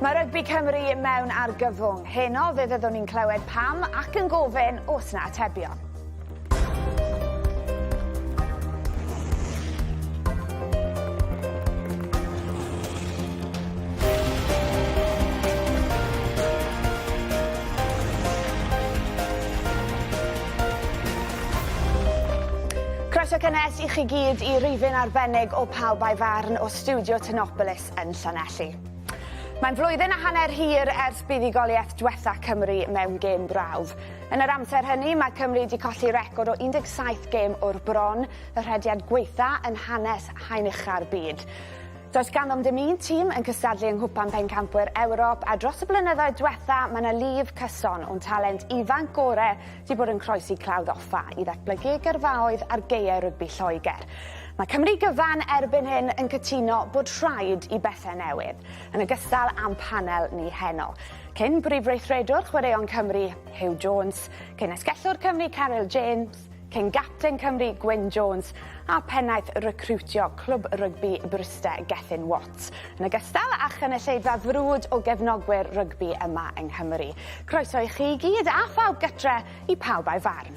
Mae rygbi Cymru mewn argyfwng. Heno fe fyddwn ni'n clywed pam ac yn gofyn os na atebion. Croeso cynnes i chi gyd i rifyn arbennig o Pawb a'i Farn o Studio Tenopolis. yn Llanelli. Mae'n flwyddyn a hanner hir ers buddugoliaeth dwetha Cymru mewn gêm brawf. Yn yr amser hynny, mae Cymru wedi colli record o 17 gêm o'r bron, y rhediad gwaetha yn hanes haen ucha'r byd. Does ganddo'm dim un tîm yn cystadlu yng Nghwpan Pencampwyr Ewrop a dros y blynyddoedd dwetha mae 'na lif cyson o'n talent ifanc gore wedi bod yn croesi clawdd offa i ddatblygu gyrfaoedd ar gaeau rygbi Lloegr. Mae Cymru gyfan erbyn hyn yn cytuno bod rhaid i bethau newid, yn ogystal â'n panel ni heno. Cyn brif weithredwr chwaraeon Cymru, Huw Jones, cyn esgellwr Cymru Caryl James, cyn gapten Cymru Gwyn Jones a pennaeth recriwtio clwb rygbi Bryste Gethin Watt. Plant, yn ogystal â chynulleidfa frwd o gefnogwyr rygbi yma yng Nghymru. Croeso i chi i gyd a phawb gytre, i pawb a'i farn.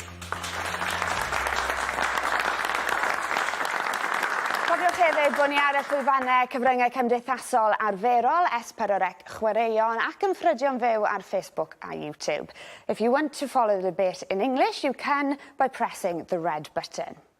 Cofiwch hefyd bod ni ar y llwyfannau cyfryngau cymdeithasol arferol, S4C Chwaraeon ac yn ffrydio'n fyw ar Facebook a YouTube. If you want to follow the debate in English, you can by pressing the red button.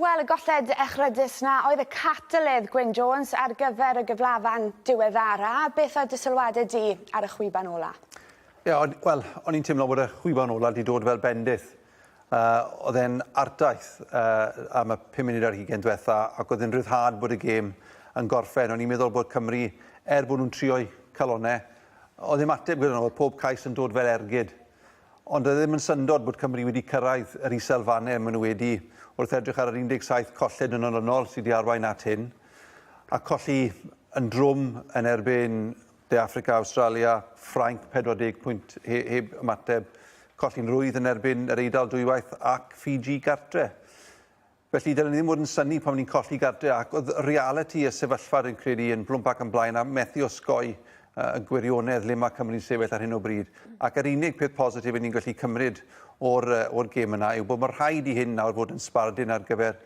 Wel, y golled echrydus 'na oedd y catalydd, Gwyn Jones, ar gyfer y gyflafan diweddara'. Beth oedd dy sylwade di ar y chwiban ola? Ie, o'n, wel, o'n i'n teimlo bod y chwiban ola wedi dod fel bendith. Uh, oedd e'n artaith uh, am y pum munud ar hugen diwetha ac oedd e'n rhyddhad bod y gêm yn gorffen. O'n i'n meddwl bod Cymru, er bod nhw'n trio'i calonau, oedd e'n ateb gyda nhw, oedd pob cais yn dod fel ergyd. Ond doedd e ddim yn syndod bod Cymru wedi cyrraedd yr isel fannau maen nhw wedi, wrth edrych ar yr 17 colled yn olynol sydd wedi arwain at hyn, a colli yn drwm yn erbyn De Affrica, Awstralia, Ffrainc, 40 pwynt he heb ymateb, colli'n rwydd yn erbyn yr Eidal dwywaith ac Fiji gartre. Felly, dylen ni ddim fod yn synnu pan ni'n colli gartre, ac oedd realiti y sefyllfa, rwy'n credu, yn Blwm Parc yn blaen, a methu osgoi y gwirionedd le mae Cymru'n sefyll ar hyn o bryd. Ac yr unig peth positif ni'n gallu cymryd o'r, o'r gêm yna yw bod mae'n rhaid i hyn nawr fod yn sbardun ar gyfer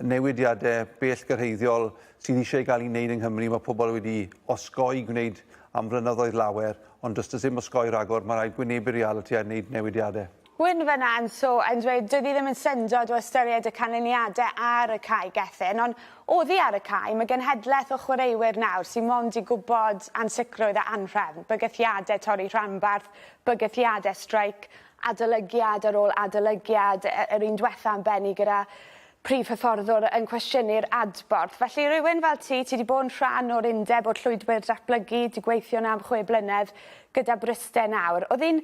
newidiadau bell gyrhaeddiol sydd eisiau gael ei wneud yng Nghymru. Mae pobl wedi osgoi gwneud am flynyddoedd lawer, ond does does dim osgoi rhagor, mae'n rhaid gwynebu'r realiti a wneud newidiadau. Gwyn fynna yn so yn dweud doedd hi ddim yn syndod o ystyried y canlyniadau ar y cae Gethin, ond oddi ar y cae, mae genhedlaeth o chwaraewyr nawr sydd mond i gwybod ansicrwydd a anhrefn, bygythiadau torri rhanbarth, bygythiadau streic, adolygiad ar ôl adolygiad, yr un dwetha yn bennu gyda prif hyfforddwr yn cwestiynu'r adborth. Felly rywun fel ti, ti 'di bod yn rhan o'r undeb o'r llwybr datblygu, 'di gweithio 'na am chwe blynedd gyda Bryste nawr, oedd hi'n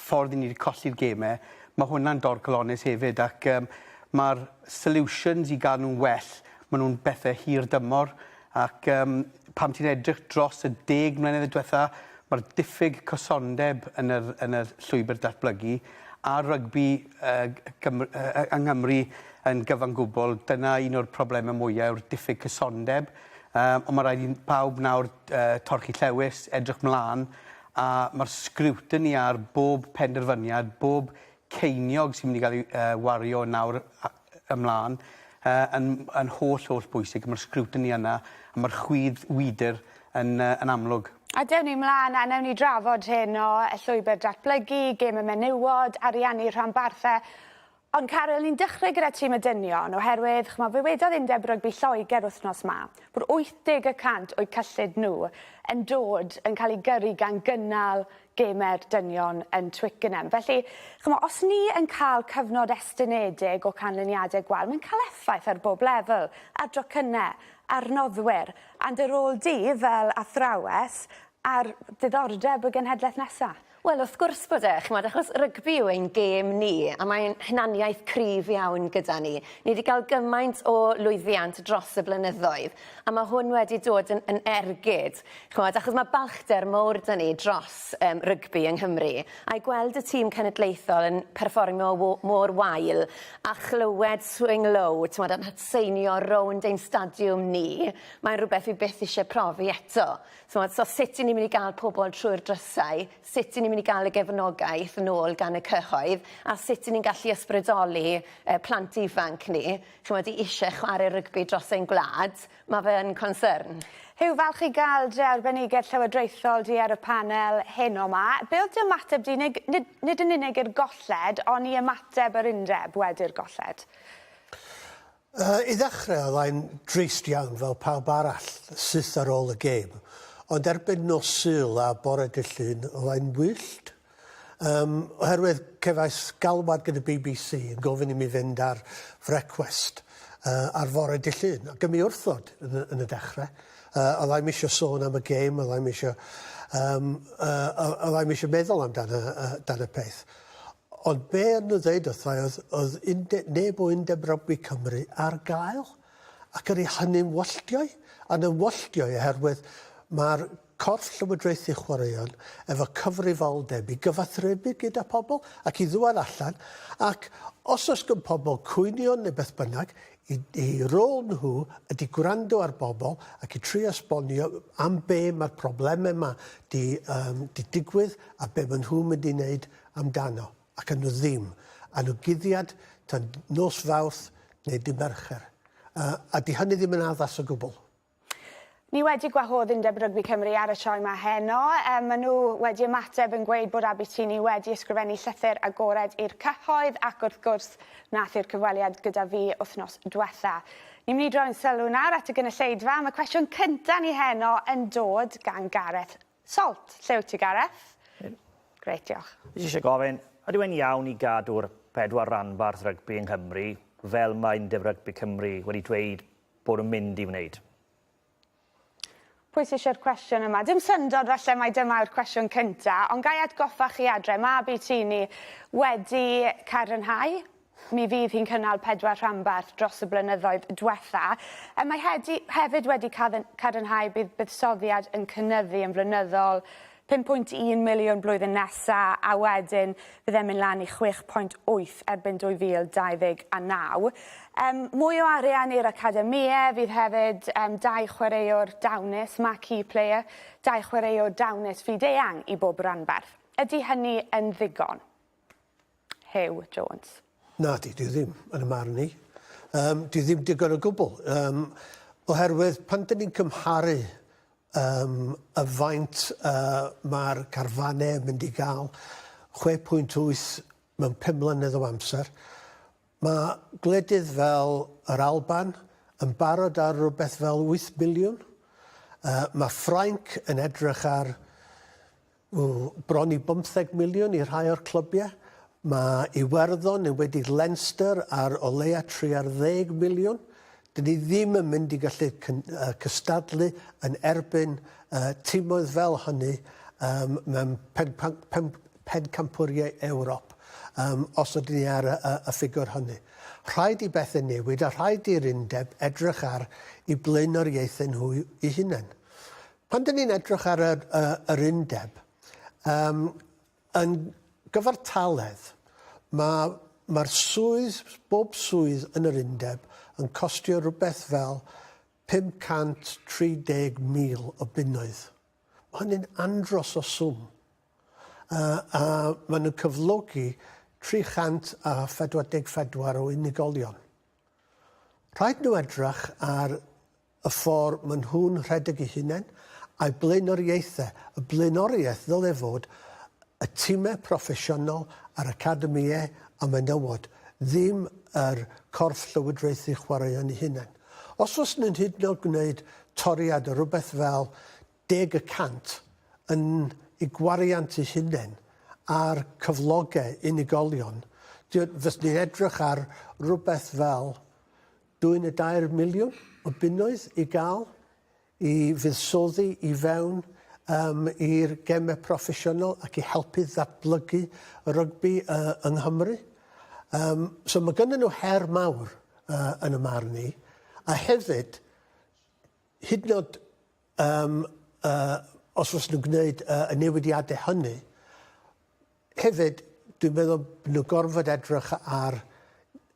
ffordd i ni 'di colli'r geme, ma' hwnna'n dorcalonnus hefyd ac yym ma'r solutions i ga'l nw'n well ma' nw'n bethe hir dymor ac yym pan ti'n edrych dros y deg mlynedd dwetha ma'r diffyg cysondeb yn yr yn y llwybyr datblygu a rygbi yy g- Cymr- yy yy yng Nghymru yn gyfan gwbwl dyna un o'r probleme mwya yw'r diffyg cysondeb yym on' ma' raid i n- pawb nawr yy torchi llewys edrych mlan a mae'r sgriwtini ar bob penderfyniad, bob ceiniog sy'n mynd i gael ei wario o nawr ymlaen, yn holl, holl bwysig, a mae'r sgriwtini yna, a mae'r chwydd wydr yn amlwg. A dewn ni mlaen, a newn ni drafod heno, y llwybr datblygu, gêm y menywod, ariannu rhanbarthau. Ond Caryl, ni'n dechrau gyda tîm y dynion, oherwydd, ch'mo, fe wedodd Undeb Rygbi Lloegr wythnos 'ma bod 80 y cant o'u cyllid nhw yn dod yn cael ei gyrru gan gynnal gemau'r dynion yn Twickenham. Felly, ch'mo, os ni yn cael cyfnod estynedig o canlyniadau gwael, mae'n cael effaith ar bob lefel, ar docynnau, ar noddwyr, and ar ôl dydd fel athrawes, ar ddiddordeb y genhedlaeth nesaf. Wel wrth gwrs bod e, ch'mod, achos rygbi yw ein gêm ni, a mae'n hunaniaeth cryf iawn gyda ni. Ni wedi cael gymaint o lwyddiant dros y blynyddoedd, a mae hwn wedi dod yn, yn ergyd, ch'mod, achos mae balchder mowr 'da ni dros um, rygbi yng Nghymru, a'i gweld y tîm cenedlaethol yn perfformio mor wael, a chlywed swing low, t'mod, yn hatseinio rownd ein stadiwm ni, mae'n rhywbeth fi byth eisiau profi eto. T'mod, so sut 'yn ni myn' i ga'l pobol trwy'r drysau, sut 'yn ni myn' i ga'l y gefnogaeth yn ôl gan y cyhoedd, a sut 'yn ni'n gallu ysbrydoli yy plant ifanc ni, ch'mod, i isie chware rygbi dros ein gwlad, ma' fe yn concern. Huw, falch i ga'l dy arbenigedd llywodraethol di ar y panel heno 'ma. Be' o'dd dy ymateb di, neu nid nid yn unig i'r golled, on' i ymateb yr undeb wedi'r golled? I ddechrau oedd ai'n drist iawn fel pawb arall, syth ar ôl y gêm, ond erbyn nos Sul a bore Dydd Llun oedd ai'n wyllt. Yym, oherwydd cefais galwad gan y bbc yn gofyn i mi fynd ar frecwest yy ar fore Dydd Llun, ac yn mi wrthod yn y yn y dechrau. Yy oedd ai'm isio sôn am y gêm, oedd ai'm isio yym yy oedd oedd ai'm isio meddwl amdan y y dan y peth. Ond be o'n nhw'n ddeud wrtha i oedd, oedd unde, neb o Undeb Rygbi Cymru ar gael, ac yr i hynny'n wylltiau, yn yn wylltiau oherwydd mae'r corff llywodraethu chwaraeon efo cyfrifoldeb i gyfathrebu gyda pobl ac i ddŵad allan ac os oes gan pobl cwynion neu beth bynnag, i, i rôl nhw ydy gwrando ar bobl ac i trio esbonio am be mae'r problemau yma di, um, di digwydd a be maen nhw'n mynd i wneud amdano ac yn nhw ddim a nhw guddiad tan nos Fawrth neu dydd Mercher. A, a 'di hynny ddim yn addas o gwbl. Ni wedi gwahodd Undeb Rygbi Cymru ar y sioe 'ma heno. Um, maen nhw wedi ymateb yn gweud bod Abitini wedi ysgrifennu llythyr agored i'r cyhoedd ac wrth gwrs nath i'r cyfweliad gyda fi wythnos diwetha. Ni'n mynd i droi'n sylw nawr at y gynulleidfa. Mae cwestiwn cynta ni heno yn dod gan Gareth Salt, lle wyt ti Gareth? Hwyl. Grêt, diolch. Fi jyst isie gofyn, ydyw e'n iawn i gadw'r pedwar ranbarth rygbi yng Nghymru, fel mae Undeb Rygbi Cymru wedi dweud bod nhw'n mynd i wneud? Pwy sy isie'r cwestiwn yma? Dim syndod falle mai dyma yw'r cwestiwn cynta, ond ga i atgoffa chi adre, mab i Tini wedi cael rhyddhau Mi fydd hi'n cynnal pedwar rhanbarth dros y blynyddoedd dwetha. Er mae hedi, hefyd wedi cadarnhau bydd buddsoddiad yn cynnyddu yn flynyddol 5.1 miliwn blwyddyn nesa a wedyn bydd e'n mynd lan i 6.8 erbyn 2029. Um, mwy o arian i'r academie, fydd hefyd um, dau chwaraewr dawnus, marquee player, dau chwaraewr dawnus fyd-eang i bob ranbarth. Ydy hynny yn ddigon? Huw Jones. Nadi, dwi ddim, yn y marn i. Um, dwi ddim digon o gwbl. Um, oherwydd pan dyn ni'n cymharu um, y faint uh, mae'r carfanau yn mynd i gael 6.8 mewn 5 mlynedd o amser, mae gwledydd fel yr Alban yn barod ar rhywbeth fel 8 miliwn. Uh, mae Ffrainc yn edrych ar O, bron i bymtheg miliwn i rhai o'r clybiau. Mae Iwerddon, enwedig Leinster, ar o leia tri ar ddeg miliwn. Dyn ni ddim yn mynd i gallu cystadlu yn erbyn timoedd fel hynny mewn pencampwriau Ewrop os ydyn ni ar y ffigwr hynny. Rhaid i bethau newid a rhaid i'r undeb edrych ar i blaenoriaethau nhw eu hunain. Pan dyn ni'n edrych ar yr, y, yr undeb, um, yn gyfartaledd, mae mae'r swydd, bob swydd yn yr undeb yn costio rhywbeth fel 530,000 o bunnoedd. Mae hynny'n andros o swm. Uh, a maen nhw'n cyflogi 344 o unigolion. Rhaid nhw edrych ar y ffordd maen nhw'n rhedeg eu hunain, a'u blaenoriaethau, y blaenoriaeth ddylai fod y timau proffesiynol a'r academïau a menywod, ddim yr corff llywodraethu chwaraeon eu hunain. Os fyswn yn hyd yn oed gwneud toriad o rywbeth fel deg y cant yn eu gwariant eu hunain ar cyflogau unigolion, fyswn i'n edrych ar rywbeth fel Dwyn y dair miliwn o bunnoedd i gael i fuddsoddi i fewn um, i'r gemau proffesiynol ac i helpu ddatblygu y rygbi uh, yng Nghymru. Um, so mae gynnyn nhw her mawr uh, yn y marn i. A hefyd, hyd yn oed Yym, yy, os fyswn nhw'n gwneud yy, y newidiadau hynny, hefyd, dwi'n meddwl bod nhw'n gorfod edrych ar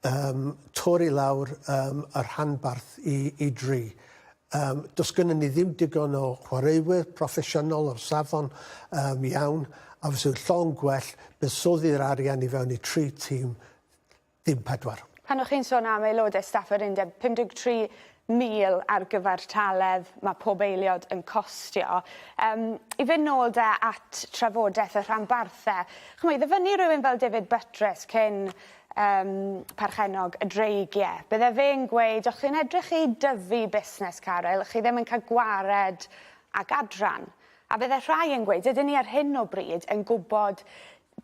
yym, torri lawr yym, y rhanbarth i, i dri. Yym, does gynnon ni ddim digon o chwaraewyr proffesiynol o'r safon yym, iawn, a fysa fo'n llond gwell buddsoddi'r arian i fewn i tri tîm, dim pedwar. Pan o'ch chi'n sôn am aelodau staff yr undeb, 53,000 ar gyfartaledd mae pob aeliod yn costio. Um, I fynd nôl da at trafodaeth y rhanbarthau, chymod, i ddyfynnu rhywun fel David Buttress cyn um, parchenog y dreigiau, bydde fe'n gweud, o'ch chi'n edrych i dyfu busnes caryl, chi ddim yn cael gwared ag adran. A bydde rhai yn gweud, ydyn ni ar hyn o bryd yn gwybod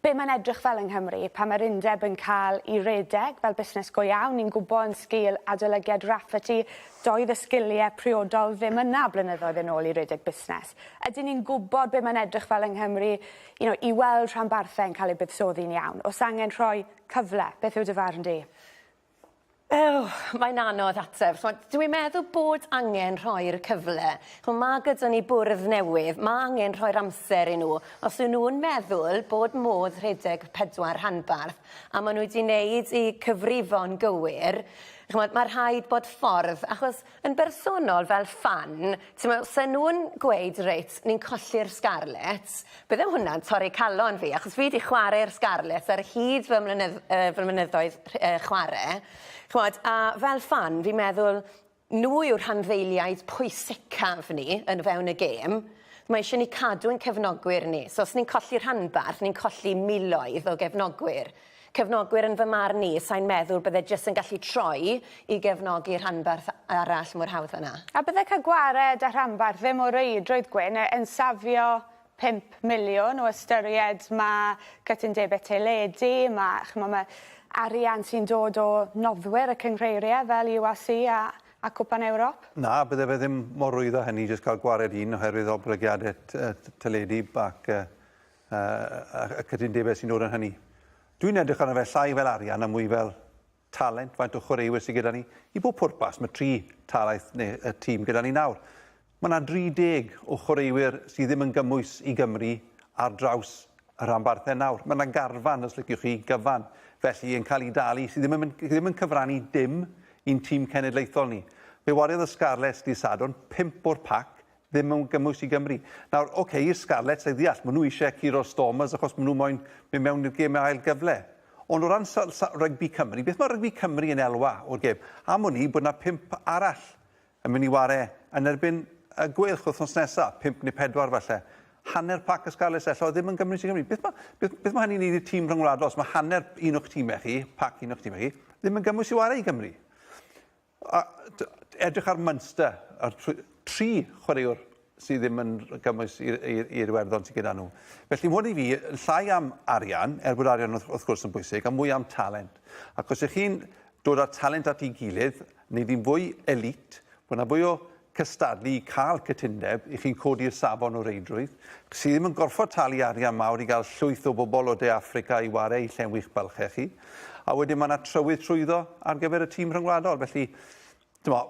Be' mae'n edrych fel yng Nghymru pan mae'r undeb yn cael i redeg fel busnes go iawn, ni'n gwbo yn sgil adolygiad Rafferty doedd y sgilie priodol ddim yna blynyddoedd yn ôl i redeg busnes. Ydyn ni'n gwbod be' mae'n edrych fel yng Nghymru you know i weld rhanbarthau'n cael eu buddsoddi'n iawn? O's angen rhoi cyfle? Beth yw dy farn di? Eww, mae'n anodd ateb. Ch'mod, dw i'n meddwl bod angen rhoi'r cyfle. Ch'mo', ma' gyda ni bwrdd newydd, ma' angen rhoi'r amser i nhw. Os yw nhw'n meddwl bod modd rhedeg y pedwar rhanbarth, a ma' nhw 'di neud eu cyfrifon gywir, ch'mod, ma' rhaid bod ffordd, achos Yn bersonol fel ffan t'mo' se nw'n gweud reit ni'n colli'r Scarlets bydde hwnna'n torri calon fi achos fi 'di chware i'r Scarlets ar hyd fy mlynyddd- yy fy mynyddoedd rh- yy chware ch'mod a fel ffan fi'n meddwl n'w yw'r rhanddeiliaid pwysicaf ni yn o fewn y gêm mae isie ni cadw ein cefnogwyr ni so os ni'n colli rhanbarth ni'n colli miloedd o gefnogwyr. Cefnogwyr yn fy marn i, sai'n meddwl bydde jyst yn gallu troi i gefnogi rhanbarth arall mor hawdd fanna. A bydde cael gwared â rhanbarth ddim o reidrwydd gwyn e yn safio pump miliwn o ystyried ma' cytundebe teledu, ma' ch'mo' ma' arian sy'n dod o noddwyr y cynghreirie fel URC a a Cwpan Ewrop? Na, bydde fe ddim mor rwydd â hynny jyst cael gwared un oherwydd oblygiade t- yy t- teledu bac yy A, a, a cytundebau sy'n dod yn hynny. Dwi'n edrych arno fe llai fel arian a mwy fel talent, faint o chwaraewyr sydd gyda ni. I bob pwrpas, mae tri talaeth neu y tîm gyda ni nawr. Mae yna 30 o chwaraewyr sydd ddim yn gymwys i Gymru ar draws y rhanbarthau nawr. Mae yna garfan, os liciwch chi, gyfan, felly yn cael ei dalu, sydd ddim yn, ddim yn cyfrannu dim i'n tîm cenedlaethol ni. Fe wariodd y Scarlets di Sadwrn, pimp o'r pac, ddim mewn gymwys i Gymru. Nawr, ok, i'r Scarlets, a i ddeall, maen nhw eisiau curo'r Stormers achos maen nhw moyn mynd mewn i'r gêm ail gyfle. Ond o ran rygbi Cymru, beth mae rygbi Cymru yn elwa o'r gêm? Am wn i bod yna pimp arall yn mynd i ware yn erbyn y Gweilch wythnos nesaf, pimp neu pedwar falle. Hanner pac y Scarlets ello ddim yn gymwys i Gymru. Beth mae, beth, beth mae hynny'n neud i'r tîm rhyngwladol os mae hanner un o'ch tîmau chi, pac un o'ch tîmau chi, ddim yn gymwys i ware i Gymru? A edrych ar Munster, a'r tri chwaraewr sydd ddim yn gymwys i'r Iwerddon sydd gyda nhw. Felly hwn i fi, yn llai am arian, er bod arian wrth gwrs yn bwysig, a mwy am talent. Ac os ych chi'n dod â'r talent at ei gilydd, neu ddim fwy elite, bod yna fwy o cystadlu i cael cytundeb i chi codi'r safon o reidrwydd, chi ddim yn gorfod talu arian mawr i gael llwyth o bobl o De Affrica i ware i llenwi eich bylchau chi, a wedyn mae yna trywydd trwyddo ar gyfer y tîm rhyngwladol. Felly, dyma,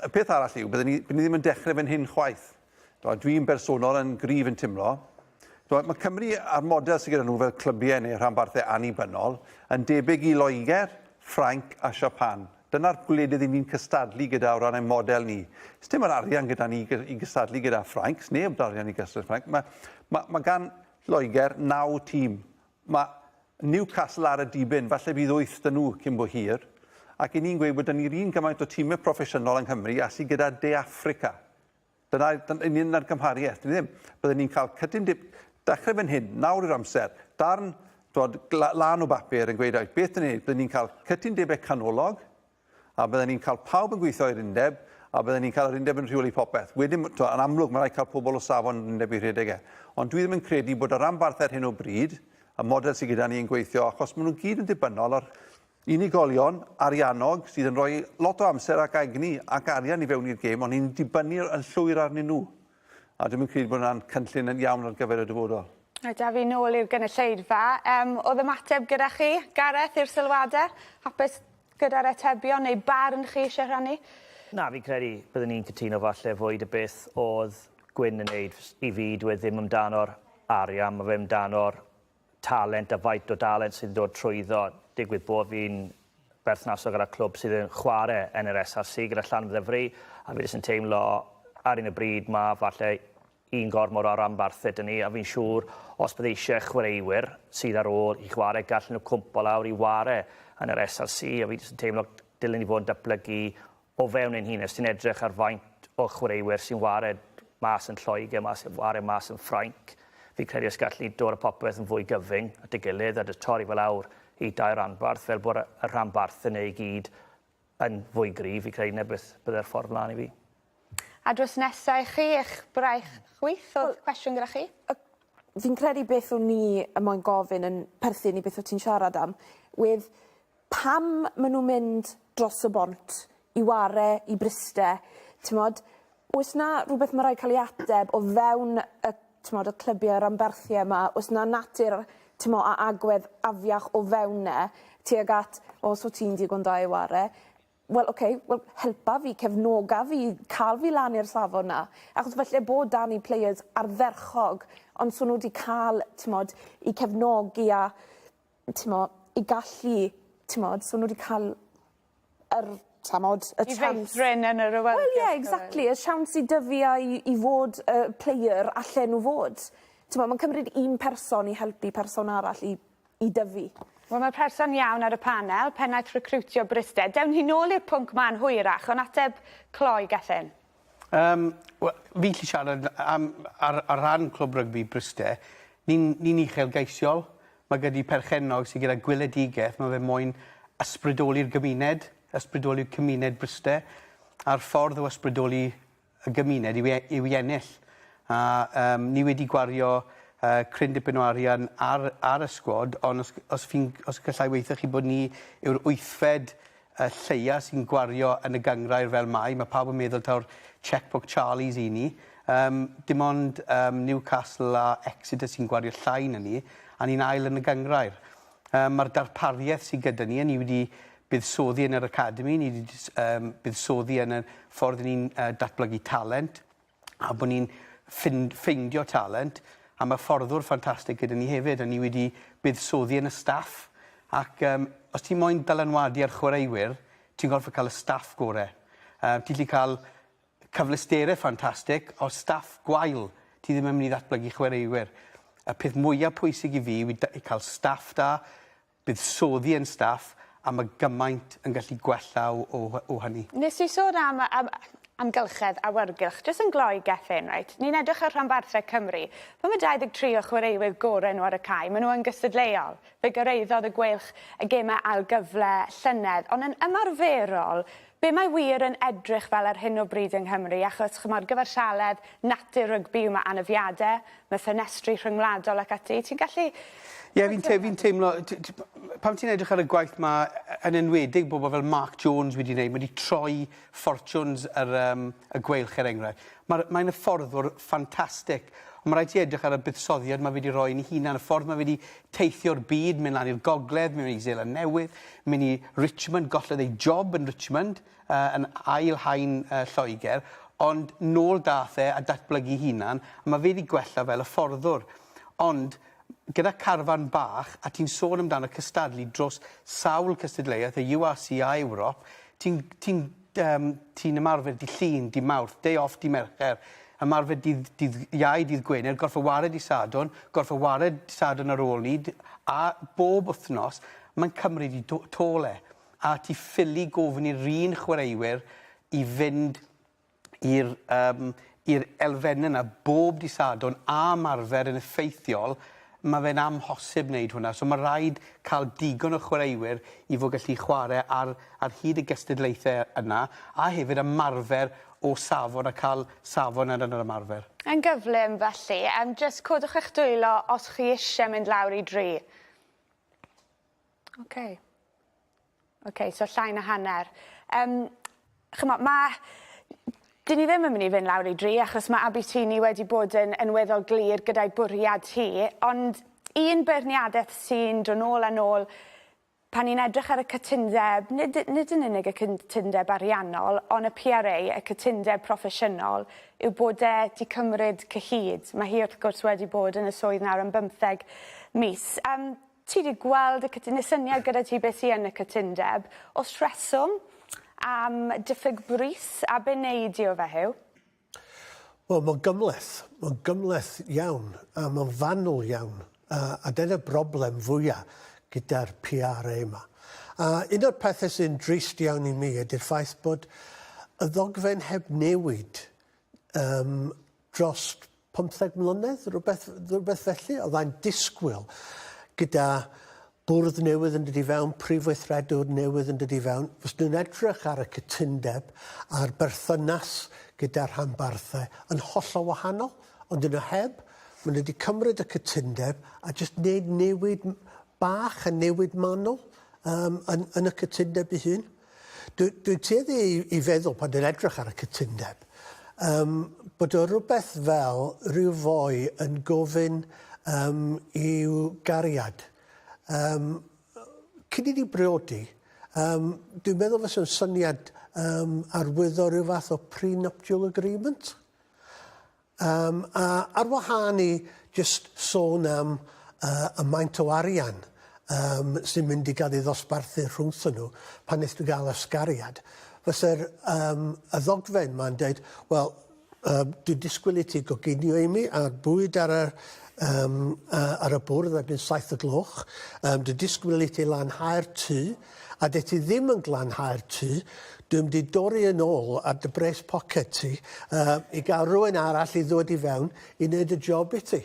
y peth arall yw, byddwn ni, ni ddim yn dechrau fan hyn chwaith. Dwi'n bersonol yn gryf yn timlo, mae Cymru a'r model sydd gyda nhw fel clybiau neu rhanbarthau annibynnol yn debyg i Loegr, Ffrainc a Siapan. Dyna'r ble dydyn ni'n cystadlu gyda o ran ein model ni. Sdim yr arian gyda ni i gystadlu gyda Ffrainc, sneb yr arian i gystadlu Ffrainc. Mae, mae, mae gan Loegr naw tîm. Mae Newcastle ar y dibyn, falle bydd wyth dyn nhw cyn bo hir. Ac i ni'n gweud bod dyn ni'r un gymaint o tîmau proffesiynol yng Nghymru a sydd gyda De Affrica. Dyna union na'r gymhariaeth. Dwi ddim. Byddwn ni'n cael cydyn dip dechrau fan hyn, nawr i'r amser, darn dod lan o bapur yn gweud oes beth yn ei wneud. Byddwn ni'n cael cydyn debau canolog, a byddwn ni'n cael pawb yn gweithio i'r undeb, a byddwn ni'n cael yr undeb yn rheoli popeth. Wedyn, to, yn amlwg, mae'n rhaid cael pobl o safon yr undeb i rhedeg e. Ond dwi ddim yn credu bod y rhanbarth ar hyn o bryd, y model sydd gyda ni yn gweithio, achos maen nhw gyd yn ddibynnol ar unigolion ariannog sydd yn rhoi lot o amser ac egni ac arian i fewn i'r gêm, ond ni'n dibynnu yn llwyr arnyn nhw. A dwi'm yn credu bod yna'n cynllun yn iawn ar gyfer y dyfodol. Reit, a fi nôl i'r gynulleidfa. Yym, o'dd ymateb gyda chi, Gareth, i'r sylwade? Hapus gyda'r atebion neu barn chi isie rhannu? Na, fi'n credu byddwn i'n cytuno falle fwy 'da beth o'dd Gwyn yn neud. I fi, dyw e ddim amdano'r arian, ma' fe amdano'r talent a faint o dalent sydd yn dod trwyddo. Digwydd bod fi'n berthnasol gyda clwb sydd yn chwarae yn yr SRC gyda Llanfyddefry a fi jyst yn teimlo ar un y bryd mae falle un gormor o ranbarthau dyn ni a fi'n siŵr os bydd eisiau chwaraewyr sydd ar ôl i chwarae gallen nhw cwmpo lawr i ware yn yr SRC a fi jyst yn teimlo dylen ni fod yn datblygu o fewn ein hun, os ti'n edrych ar faint o chwaraewyr sy'n wared mas yn Lloegr, mas yn wared mas yn Ffrainc, fi'n credu os gallu dod a popeth yn fwy gyfyng at ei gilydd a dy torri fel awr i dau ranbarth fel bod y rhanbarth yn ei gyd yn fwy gryf, fi'n credu na beth bydde'r ffordd mlaen i fi. A drws nesa i chi, eich braich chwith, oedd cwestiwn gyda chi? Y fi'n credu beth o'n i yn moyn gofyn yn perthyn i beth o' ti'n siarad am wedd pam ma' nhw'n mynd dros y bont i ware i Bryste, t'mod? Oes 'na rwbeth ma' raid ca'l 'i ateb o fewn y t'mod y clybie ranbarthie 'ma? O's 'na natur t'mo' a agwedd afiach o fewn 'na tuag at o so ti'n digon da i ware wel oce wel helpa fi cefnoga fi ca'l fi lan i'r safon 'na achos falle bod 'da ni players ardderchog ond so n'w 'di ca'l t'mod 'u cefnogi a t'mo' i gallu t'mod so n'w 'di ca'l yr t'mod y chance... I feithrin yn yr awyrgylch... Wel ie exactly y siawns i dyfu a i i fod y player allen n'w fod. T'mo' ma'n cymryd un person i helpu person arall i i dyfu. Wel ma'r person iawn ar y panel, pennaeth recriwtio Bristed. Dewn ni nôl i'r pwnc 'ma'n hwyrach on' ateb cloi Gethin. Yym we- fi'n gallu siarad am ar ar ran Clwb Rygbi Bryste. Ni'n ni'n uchelgeisiol. Mae gyda ni perchennog sy gyda gweledigaeth, mae fe moyn ysbrydoli'r gymuned, ysbrydoli'r cymuned Bryste, a'r ffordd o ysbrydoli y gymuned yw e- yw i ennill. A yym ni wedi gwario yy cryn dipyn o arian ar ar y sgwad, ond os g- os fi'n g- os gallai weithio chi bod ni yw'r wythfed y lleia sy'n gwario yn y gynghrair fel mai, mae pawb yn meddwl taw'r cheque-book Charlies i ni. Yym, dim ond um, Newcastle a Exeter sy'n gwario llai na ni, a ni'n ail yn y gynghrair. Um, Mae'r darpariaeth sydd gyda ni, a ni wedi buddsoddi yn yr academi, ni wedi um, buddsoddi yn y ffordd ni'n uh, datblygu talent, a bod ni'n ffind- ffeindio talent, a ma' fforddwr ffantastig gyda ni hefyd, a ni wedi buddsoddi yn y staff, ac yym os ti moyn dylanwadu ar chwaraewyr, ti'n gorfod cael y staff gore'. Yy ti'n gallu cael cyfleusterau ffantastig, ond staff gwael, ti ddim yn mynd i ddatblygu chwaraewyr. Y peth mwyaf pwysig i fi yw i da- i cael staff da, buddsoddi ein staff a mae gymaint yn gallu gwella o o hy- o hynny. Nes di sôn am am amgylchedd awyrgylch jyst yn gloi Gethin reit ni'n edrych ar rhanbarthau Cymru pan ma' 23 o chwaraewyr gore nhw ar y cae ma' nhw yn gystadleuol fe gyraeddodd y Gweilch y gemau ail gyfle llynedd ond yn ymarferol Be mae wir yn edrych fel ar hyn o bryd yng Nghymru, achos ch'mod gyfartaledd natur rygbi yw ma' anafiade, ma' ffenestri rhyngwladol ac ati, ti'n gallu Ie fi'n te- fi'n teimlo t- t- p- pan ti'n edrych ar y gwaith ma' yy yn enwedig bobl fel Mark Jones wedi neud ma' 'di troi ffortiwns yr yym y gweilch er enghraifft. Ma'r mae'n hyfforddwr ffantastig. On' ma' raid ti edrych ar y buddsoddiad ma' fe 'di roi yn 'i hunan y ffordd ma' fe 'di teithio'r byd, mynd lan i'r gogledd, mynd i Seland Newydd, mynd i Richmond, gollodd ei job yn Richmond, uh, yn ail hain uh, Lloegr, ond nôl dath e a datblygu hunan, a mae fe wedi gwella fel y fforddwr. Ond gyda carfan bach, a ti'n sôn amdano cystadlu dros sawl cystadleuaeth, y URC a Ewrop, ti'n ti Yym, ti'n ymarfer dydd Llun, dydd Mawrth, day off dydd Mercher, ymarfer dydd, dydd Iau, dydd Gwener, gorffa ware dydd Sadwrn, gorffa ware dydd Sadwrn ar ôl 'ny, a bob wythnos, mae'n cymryd i tôl e. A ti ffili gofyn i'r un chwaraewyr i fynd i'r, yym, i'r elfennau yna bob dydd Sadwrn a ymarfer yn effeithiol, mae fe'n amhosib wneud hwnna. So mae rhaid cael digon o chwaraewyr i fod gallu chwarae ar, ar hyd y gystadlaethau yna, a hefyd ymarfer o safon a cael safon yn yr ymarfer. Yn gyflym, felly. Yym, jyst codwch eich dwylo os chi isie mynd lawr i dri. Oce. Ok so llai na hanner. Yym ch'mo' ma' 'dyn ni ddim yn myn' i fyn' lawr i dri achos ma' Abutyni wedi bod yn yn weddol glir gyda'i bwriad hi ond un beirniadeth sy'n do' nôl a nôl pan ni'n edrych ar y cytundeb nid y- nid yn unig y cytundeb ariannol on' y Pee Are Ay y cytundeb proffesiynol yw bod e 'di cymryd cyhyd. Ma' hi wrth gwrs wedi bod yn y swydd nawr am bymtheg mis. Yym. Ti 'di gweld y cytu- ne' syniad gyda ti be' sy yn y cytundeb. O's rheswm am diffyg brys a be' nei di o fe Huw? Wel ma'n gymhleth. Ma'n gymhleth iawn a ma'n fanwl iawn a a dyna'r broblem fwya gyda'r PRA 'ma. A un o'r pethe sy'n drist iawn i mi ydi'r ffaith bod y ddogfen heb newid yym dros pymtheg mlynedd, rhywbeth, rhywbeth felly, oddai'n disgwyl gyda bwrdd newydd yn dod i fewn, prif weithredwr newydd yn dod i fewn, fyswn nhw'n edrych ar y cytundeb a'r berthynas gyda'r rhanbarthau yn hollol wahanol, ond yn y heb, maen nhw wedi cymryd y cytundeb a jyst wneud newid bach a newid manwl um, yn, yn y cytundeb ei hun. Dwi, dwi'n tueddu i, i feddwl pan dwi'n edrych ar y cytundeb um, bod o rhywbeth fel rhyw foi yn gofyn um, i'w gariad. Um, cyn i ni briodi, um, dwi'n meddwl fes o'n syniad um, arwyddo rhyw fath o pre-nuptial agreement. Yym, a ar wahân i jyst sôn am yy y maint o arian yym sy'n mynd i gael ei ddosbarthu rhwngthon nhw pan wnest ti gael ysgariad, fyse'r yym y ddogfen 'ma'n deud, wel, yym dwi'n disgwyl i ti goginio i mi a'r bwyd ar yr yym yy ar y bwrdd erbyn saith y gloch, yym dwi'n disgwyl i ti lanhau'r tŷ, a de ti ddim yn glanhau'r tŷ, dwi'n mynd i dorri yn ôl ar dy bres poced ti yy i gael rhywun arall i ddod i fewn i wneud y job i ti.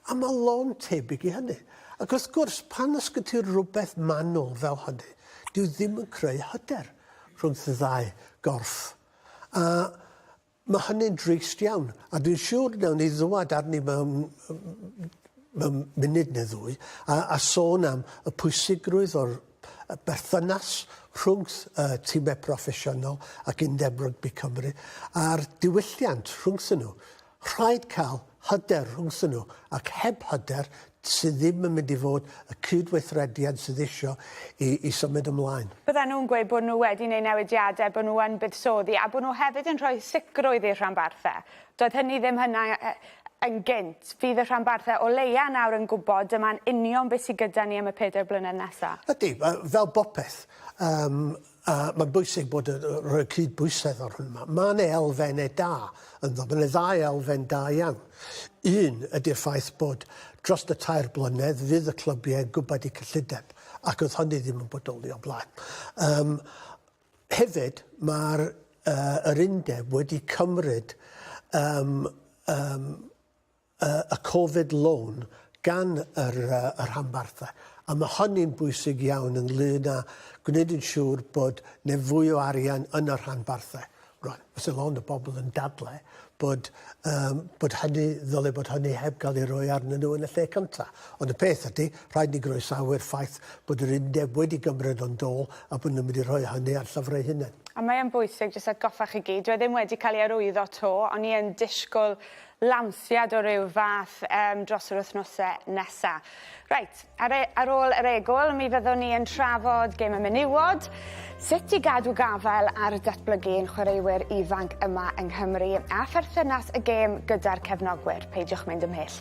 A mae lôn tebyg i hynny. Ac wrth gwrs, pan os gen ti rywbeth manwl fel hynny, dyw ddim yn creu hyder rhwng dy ddau gorff. A Mae hynny'n drist iawn, a dwi'n siŵr wnawn ni ddwad arni mewn, mewn munud neu ddwy, a, a sôn am y pwysigrwydd o'r berthynas rhwng y tîmau proffesiynol ac Undeb Rygbi Cymru a'r diwylliant rhwngthyn nhw. Rhaid cael hyder rhwngthyn nhw ac heb hyder sydd ddim yn mynd i fod y cyd-weithrediad sydd eisiau i, i symud ymlaen. Byddan nhw'n gweud bod nhw wedi neu newidiadau, bod nhw yn buddsoddi a bod nhw hefyd yn rhoi sicrwydd i'r rhanbarthau. Doedd hynny ddim hynna yn gynt. Fydd y rhanbarthau o leia nawr yn gwybod dyma'n union beth sydd gyda ni am y pedair blynedd nesaf. Ydy, fel bopeth, um, A mae'n bwysig bod yn rhoi cydbwysedd o'r hwn yma. Mae yna elfennau da ynddo. Mae yna ddau elfen da iawn. Un ydy'r ffaith bod dros y tair blynedd fydd y clybiau yn gwybod eu cyllideb ac oedd hynny ddim yn bodoli o blaen. Um, hefyd, mae'r uh, yr undeb wedi cymryd um, um, y Covid Loan gan yr y rhanbarthau, a ma' hynny'n bwysig iawn ynglŷn â gwneud yn siŵr bod 'ne fwy o arian yn y rhanbarthau. Rŵan, fyse lond o bobl yn dadlau bod yym bod hynny ddyle bod hynny heb gael ei roi arnyn nhw yn y lle cynta'. Ond y peth ydi, rhaid ni groesawu'r ffaith bod yr undeb wedi gymryd o'n dôl a bod nhw'n mynd i rhoi hynny ar llyfr eu hunain. A mae yn bwysig jyst atgoffa chi gyd, dyw e ddim wedi cael ei arwyddo 'to, o'n i yn disgwl lansiad o ryw fath yym dros yr wythnose nesa. Reit, ar e- ar ôl yr egwl mi fyddwn ni yn trafod gêm y menywod, sut i gadw gafael ar datblygu ein chwaraewyr ifanc yma yng Nghymru a pherthynas y gêm gyda'r cefnogwyr. Peidiwch mynd ymhell.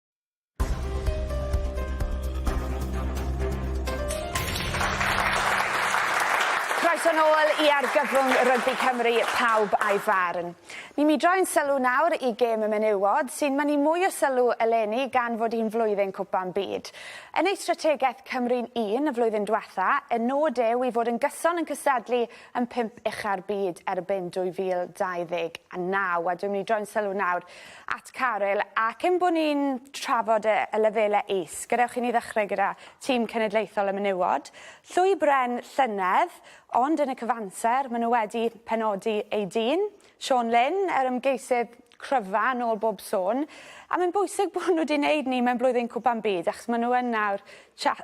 Croeso nôl i argyfwng rygbi Cymru, pawb a'i farn. Ni mi droi'n sylw nawr i gêm y menywod, sy'n mynnu mwy o sylw eleni gan fod hi'n flwyddyn Cwpan Byd. Yn ei strategaeth Cymru'n Un y flwyddyn dwetha, y nod yw i fod yn gyson yn cystadlu yn pump ucha'r byd erbyn 2029. A dwi'n mynd i droi'n sylw nawr at Caryl ac ein bod ni'n trafod y, y lefelau is. Gadewch i ni ddechrau gyda tîm cenedlaethol y menywod. Llwy Bren llynedd, ond yn y cyfanser, maen nhw wedi penodi ei dyn, Sean Lynn, yr ymgeisydd cryfa yn ôl bob sôn. A mae'n bwysig bod nhw wedi gwneud ni mewn blwyddyn cwpan byd, achos maen nhw yn nawr,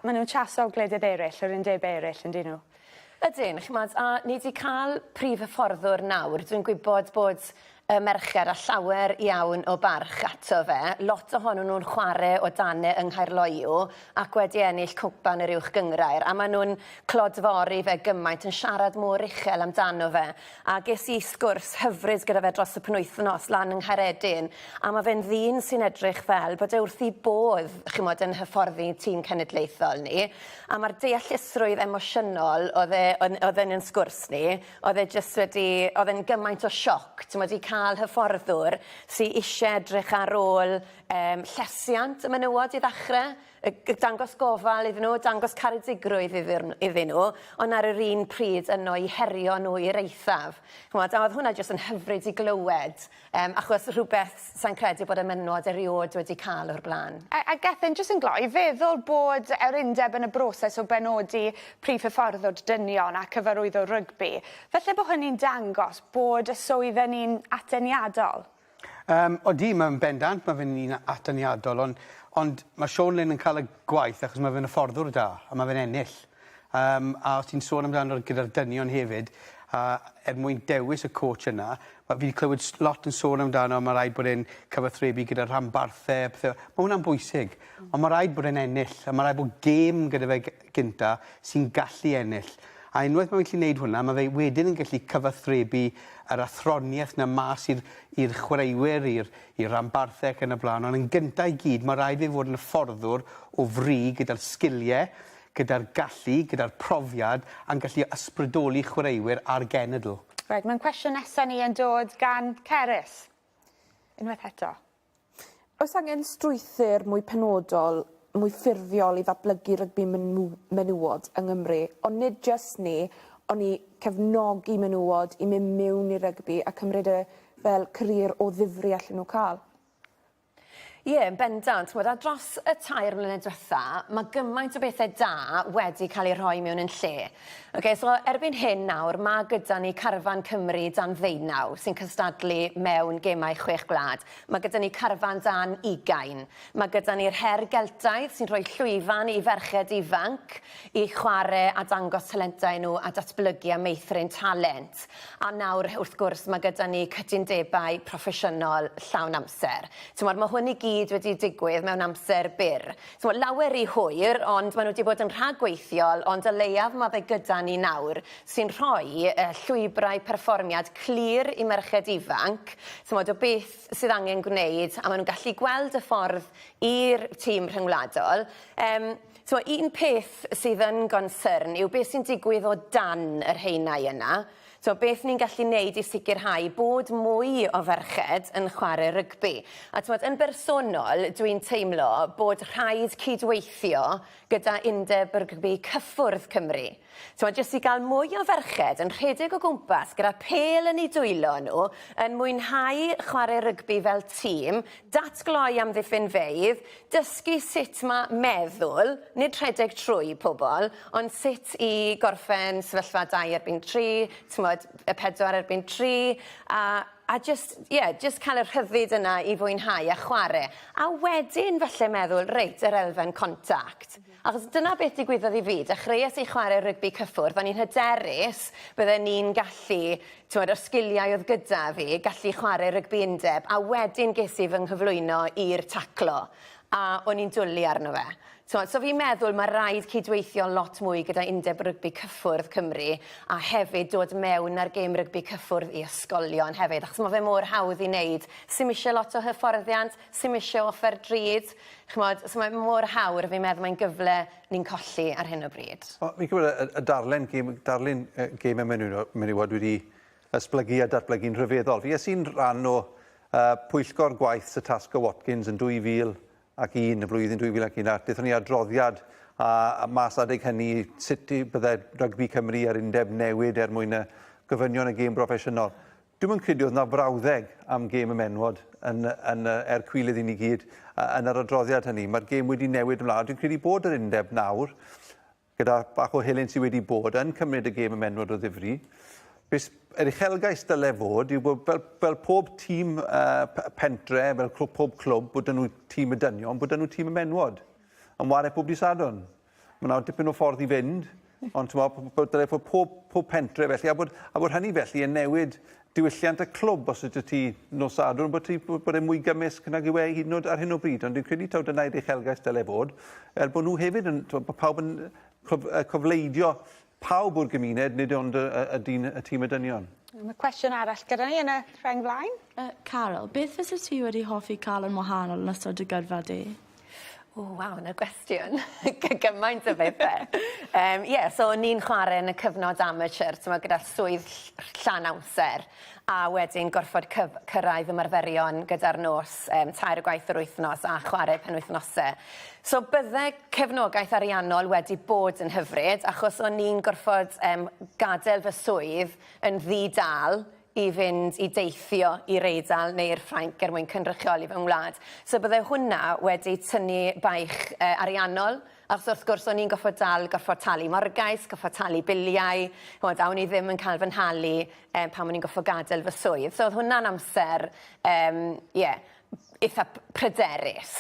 maen nhw'n chaso gwledydd eraill, yr undebau eraill, yn dyn nhw. Ydyn, ch'mod, a ni 'di ca'l prif hyfforddwr nawr, dwi'n gwybod bod y merched â llawer iawn o barch ato fe, lot ohonyn nhw'n chware o dan e yng Nghaerloyw ac wedi ennill Cwpan yr Uwch Gynghrair, a maen nhw'n clodfori fe gymaint, yn siarad mor uchel amdano fe, A ges i sgwrs hyfryd gyda fe dros y penwythnos lan yng Nghaeredin, a ma' fe'n ddyn sy'n edrych fel bod e wrth 'i bodd, ch'mod, yn hyfforddi tîm cenedlaethol ni, a ma'r deallusrwydd emosiynol o'dd e yn o'dd yn 'yn sgwrs ni, o'dd e jyst wedi, o'dd e'n gymaint o sioc, t'mod, i ca'l hyfforddwr sy isie edrych ar ôl yym llesiant y menywod i ddachre. y y dangos gofal iddyn nhw, dangos caredigrwydd iddyn nhw, iddyn nhw, ond ar yr un pryd yno i herio nhw i'r eithaf. Ch'mod, a oedd hwnna jyst yn hyfryd i glywed, yym, achos rhywbeth sai'n credu bod y menywod eriôd wedi cael o'r blaen. A, a Gethin, jyst yn gloi, feddwl bod yr undeb yn y broses o benodi prif hyfforddwr dynion a cyfarwyddwr rygbi, falle bod hynny'n dangos bod y swydd yn un ateniadol? Yym, odi, mae'n bendant, mae fe'n un atyniadol, ond, ond mae Siôn Lyn yn cael y gwaith achos mae fe'n hyfforddwr da, a mae fe'n ennill. Um, a os ti'n sôn amdano gyda'r dynion hefyd, a er mwyn dewis y coach yna, mae fi wedi clywed lot yn sôn amdano, mae rhaid bod e'n cyfathrebu gyda rhanbarthau, pethau. Mae hwnna'n bwysig, ond mae rhaid bod e'n ennill, a mae rhaid bod gêm gyda fe gyntaf sy'n gallu ennill. A unwaith mae'n gallu wneud hwnna, mae fe wedyn yn gallu cyfathrebu yr athroniaeth 'na mas i'r i'r chwaraewyr, i'r i'r rhanbarthau ac yn y blaen. Ond yn gyntaf i gyd, mae rhaid i fe fod yn hyfforddwr o fri gyda'r sgiliau, gyda'r gallu, gyda'r profiad, a'n gallu ysbrydoli chwaraewyr a'r genedl. Reit, mae'n cwestiwn nesaf ni yn dod gan Cerys. Unwaith eto. Oes angen strwythur mwy penodol, mwy ffurfiol i ddatblygu rygbi menywod yng Nghymru, ond nid jyst 'ny, ond i cefnogi menywod i mynd miwn i rygbi a cymryd e fel carier o ddifri allen nhw cael? Ie, yn bendant. Ch'mod, a dros y tair mlynedd dwetha, ma' gymaint o bethe da wedi ca'l eu rhoi mewn yn lle. Ok, so erbyn hyn nawr, mae gyda ni carfan Cymru dan ddeunaw sy'n cystadlu mewn gemau chwech gwlad. Mae gyda ni carfan dan ugain. Mae gyda ni'r her Geltaidd sy'n rhoi llwyfan i ferched ifanc i chwarae a dangos talentau nhw a datblygu a meithrin talent. A nawr, wrth gwrs, mae gyda ni cytundebau proffesiynol llawn amser. Timod, mae hwn i gyd wedi digwydd mewn amser byr. T'mo, lawer ry hwyr, ond maen nhw 'di bod yn rhagweithiol, ond o leiaf ma' fe gyda ni nawr, sy'n rhoi yy llwybrau perfformiad clir i merched ifanc, t'mod, o beth sydd angen gwneud, a maen nhw'n gallu gweld y ffordd i'r tîm rhyngwladol. Yym, t'mo, un peth sydd yn gonsyrn yw beth sy'n digwydd o dan yr haenau yna. So, beth ni'n gallu neud i sicrhau bod mwy o ferched yn chware rygbi? A t'mod, yn bersonol, dwi'n teimlo bod rhaid cydweithio gyda Undeb Rygbi Cyffwrdd Cymru. T'mod, jyst i ga'l mwy o ferched yn rhedeg o gwmpas gyda phêl yn eu dwylo nhw, yn mwynhau chware rygbi fel tîm, datgloi amddiffynfeydd, Dysgu sut mae meddwl, nid rhedeg trwy pobl, ond sut i gorffen sefyllfa dau erbyn tri, t'mod, y pedwar erbyn tri, a a jyst, ie, jyst cael y rhyddid yna i fwynhau a chware. A wedyn falle meddwl, reit, yr elfen contact. Achos dyna beth digwyddodd i fi. Dechreues i chwarae rygbi cyffwrdd. O'n i'n hyderus bydden i'n gallu, t'mod, y sgiliau oedd gyda fi, gallu chwarae rygbi undeb, a wedyn ges i fy nghyflwyno i'r taclo, a o'n i'n dwli arno fe. T'mod, so fi'n meddwl ma' raid cydweithio lot mwy gyda Undeb Rygbi Cyffwrdd Cymru, a hefyd dod mewn â'r gêm rygbi cyffwrdd i ysgolion hefyd, achos ma' fe mor hawdd i neud. Sdim isie lot o hyfforddiant, sim isie offer drud ch'mod so mae mor hawdd a fi'n meddwl mae'n gyfle ni'n colli ar hyn o bryd. Wel fi'n credu y y darllen gêm darlun yy gêm y menyw- menywod wedi esblygu a datblygu'n rhyfeddol. Fi es i'n rhan o yy pwyllgor gwaith Sir Tasker Watkins yn 2001 y flwyddyn 2001 a dethon ni adroddiad a, a mas adeg hynny sut i bydde rygbi Cymru a'r undeb newid er mwyn y gofynion y gêm broffesiynol. Dwi'm yn credu oedd 'na frawddeg am gêm y menywod yn, yn, er cwilydd i ni gyd yn yr adroddiad hynny. Mae'r gêm wedi newid ymlaen. Dwi'n credu bod yr undeb nawr, gyda bach o helynt sydd wedi bod, yn cymryd y gêm y menywod o ddifri. Bys, yr uchelgais dyle fod yw bod fel, fel pob tîm uh, pentre, fel pob clwb, bod nhw tîm y dynion, bod nhw tîm y menywod. Yn wario pob di sadwn. Mae yna dipyn o ffordd i fynd, ond ti'n meddwl bod dyle fod pob, pob pentre felly, a bod, a bod hynny felly yn newid diwylliant y clwb os ydych ti nos sadwrn bod, ti, bod e'n mwy gymysg nag yw e hyd yn oed ar hyn o bryd, ond dwi'n credu taw dyna i'r uchelgais dyle fod, er bod nhw hefyd yn, bod pawb yn cyfleidio pawb o'r gymuned, nid ond y, y, y dyn, y tîm y dynion. Mae cwestiwn arall gyda ni yn y rheng flaen. Uh, Carol, beth fysa ti wedi hoffi cael yn wahanol yn ystod dy gyrfa di? O, waw, yna gwestiwn. Gymaint o bethau. um, yeah, so o'n i'n chwarae yn y cyfnod amateur, tyma, gyda swydd llawn amser. a wedyn gorfod cyf- cyrraedd ymarferion gyda'r nos um, tair o gwaith yr wythnos a chwarae penwythnose. So bydde cefnogaeth ariannol wedi bod yn hyfryd achos o'n i'n gorfod um, gadael fy swydd yn ddi-dal i fynd i deithio i'r Eidal neu i'r Ffrainc er mwyn cynrychioli fy ngwlad. So bydde hwnna wedi tynnu baich uh, ariannol Achos wrth gwrs, o'n i'n gorfod dal, gorfod talu morgais, gorfod talu biliau, ch'mod, a o'n i ddim yn cael fy nhalu yym pan o'n i'n gorfod gadael fy swydd. So o'dd hwnna'n amser yym ie itha p- pryderus.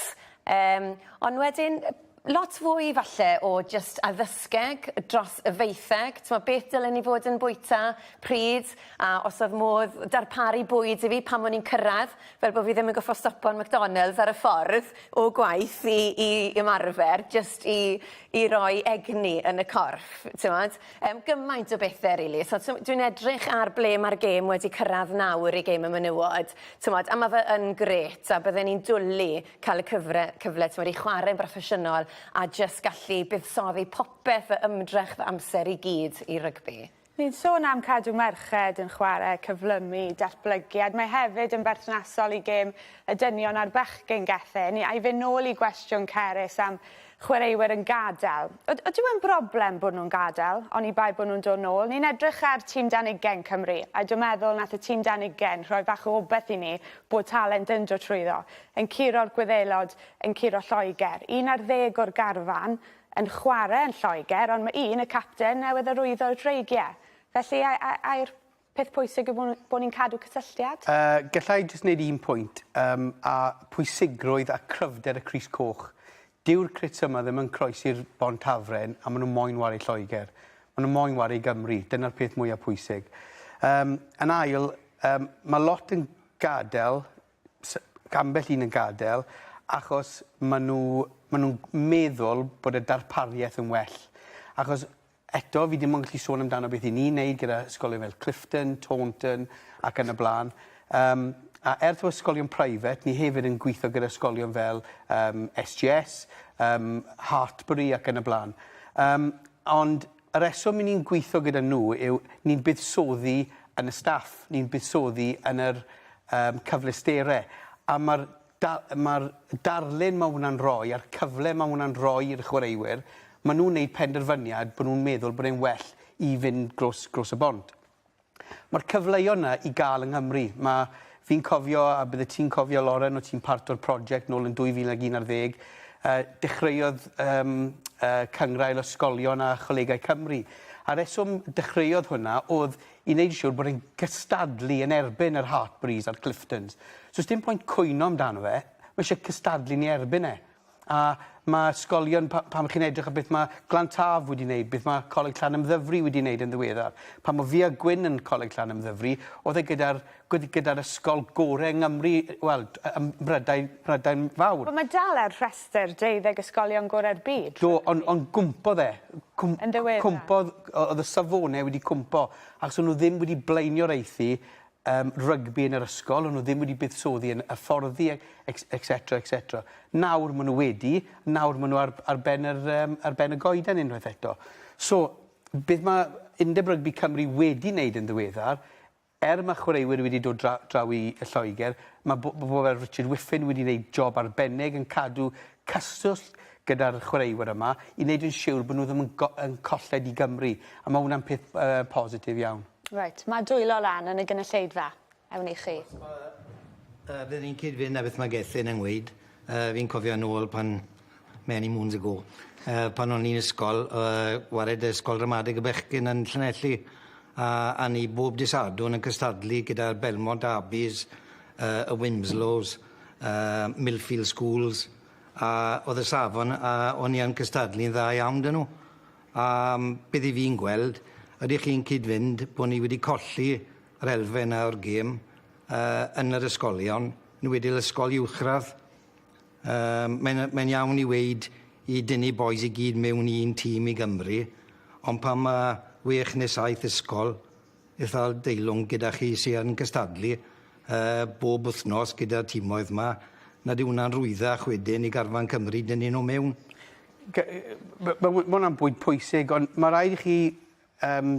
Yym ond wedyn yy lot fwy falle o jyst addysgeg dros y faetheg, t'mo' beth dylen i fod yn bwyta, pryd, a os o'dd modd darparu bwyd i fi pan o'n i'n cyrradd fel bo' fi ddim yn goffo' stopo'n McDonalds ar y ffordd o gwaith i i ymarfer jyst i i roi egni yn y corff t'mod yym gymaint o bethe rili so t'm- dwi'n edrych ar ble ma'r gêm wedi cyrradd nawr i gêm y menywod t'mod a ma' fe yn grêt a bydden i'n dwli ca'l y cyfre- cyfle t'mod i chware'n broffesiynol a jyst gallu buddsoddi popeth fy ymdrech fy amser i gyd i rygbi. Ni'n sôn am cadw merched yn chwarae, cyflymu, datblygiad, mae hefyd yn berthnasol i gêm y dynion a'r bechgyn, Gethin. Ni ai fyn' nôl i gwestiwn Cerys am chwaraewyr yn gadael. Yd- ydyw e'n broblem bod nhw'n gadael, oni bai bod nhw'n dod nôl? Ni'n edrych ar tîm dan ugain Cymru, a dw meddwl nath y tîm dan ugain rhoi fach o obeth i ni bod talent yn dod trwyddo, yn curo'r Gwyddelod, yn curo Lloegr. Un ar ddeg o'r garfan, yn chwarae yn Lloegr ond mae un, y capten, newydd arwyddo'r dreigiau. Felly a- a- ai'r peth pwysig yw bod bod ni'n cadw cysylltiad? Yy, galla i jyst wneud un pwynt, yym, a pwysigrwydd a chryfder y Crys Coch. Dyw'r crits yma ddim yn croesi'r Bont Hafren a maen nhw moyn ware i Lloegr. Maen nhw moyn ware i Gymru, dyna'r peth mwyaf pwysig. Yym, yn ail, yym, mae lot yn gadael s- ambell un yn gadel achos ma' n'w ma' nw'n meddwl bod y darparieth yn well achos eto fi dim ond gallu sôn amdano beth 'yn ni'n neud gyda ysgolion fel Clifton, Taunton ac yn y bla'n yym a er t'mo' ysgolion private ni hefyd yn gwitho gyda ysgolion fel yym Ess Jee Ess yym Hartpury ac yn y bla'n yym ond Y rheswm i ni'n gweithio gyda nhw yw ni'n buddsoddi yn y staff, ni'n buddsoddi yn yr um, cyfleusterau, a mae'r da, ma darlun mae hwnna'n rhoi a'r cyfle mae hwnna'n rhoi i'r chwaraewyr, maen nhw'n gwneud penderfyniad bod nhw'n meddwl bod e'n well i fynd glos, glos y bont. Mae'r cyfleoedd 'na i gael yng Nghymru. Mae... fi'n cofio, a byddet ti'n cofio Lauren, o' ti'n part o'r project nôl yn 2011, yy dechreuodd yym yy Cyngrair Ysgolion a Cholegau Cymru. A reswm dechreuodd hwnna o'dd i neud yn siŵr bod e'n cystadlu yn erbyn yr Hartpuries a'r Cliftons. So sdim pwynt cwyno amdano fe, ma' isie cystadlu ni erbyn e. a ma' ysgolion pa- pan chi'n edrych ar beth mae Glant Haf wedi wneud, beth mae Coleg Llanymddyfri wedi wneud yn ddiweddar. Pan mae Fia Gwyn yn Coleg Llanymddyfri, oedd e gyda'r gyda, gyda ysgol gorau yng Nghymru, wel, ym Mhrydain, Mhrydain Fawr. Wel, mae dal ar rhestr deuddeg ysgolion gorau'r byd. Do, ond on gwmpo fe. Cwm, yn ddiweddar. Cwmpo, oedd y safonau wedi cwmpo, achos o'n nhw ddim wedi blaenio'r eithi um, rygbi yn yr ysgol, ond nhw ddim wedi buddsoddi yn hyfforddi, etc, etc. Nawr maen nhw wedi, nawr maen nhw ar, ar, ben, yr, um, ar ben y goeden unwaith eto. So, beth mae Undeb Rygbi Cymru wedi wneud yn ddiweddar, er mae chwaraewyr wedi dod dra, draw i y Lloegr, mae bobl fel Richard Whiffin wedi gwneud job arbennig yn cadw cyswllt gyda'r chwaraewyr yma i wneud yn siwr bod nhw ddim yn, yn colled i Gymru. A mae hwnna'n peth uh, positif iawn. Reit, mae dwylo lan yn y gynulleidfa. Ewn i chi. Os mae yy bydd hi'n cyd-fynd â beth mae Gethin yn weud yy fi'n cofio nôl pan many moons ago yy pan o'n i'n ysgol yy wared y ysgol ramadeg y bechgyn yn Llanelli a a ni bob dy' Sadwrn yn cystadlu gyda'r Belmont Derbies yy y Winslows yy Millfield Schools a o'dd y safon a o'n i yn cystadlu'n dda iawn 'dy nw. A beth 'yf fi'n gweld, ydych chi'n cyd-fynd bo' ni wedi colli yr elfen 'na o'r gêm yy yn yr ysgolion, yn enwedig ysgol uwchradd? Yym mae'n yy mae'n iawn i weud i dynnu bois i gyd mewn i un tîm i Gymru ond pan ma' wech ne' saith ysgol itha deilwng gyda chi sy yn cystadlu yy bob wthnos gyda'r timoedd 'ma nad yw wnna'n rhwyddach wedyn i garfan Cymru dynnu nw mewn? G- yy ma' ma' wy- ma' wnna'n bwynt pwysig ond ma' raid i chi yym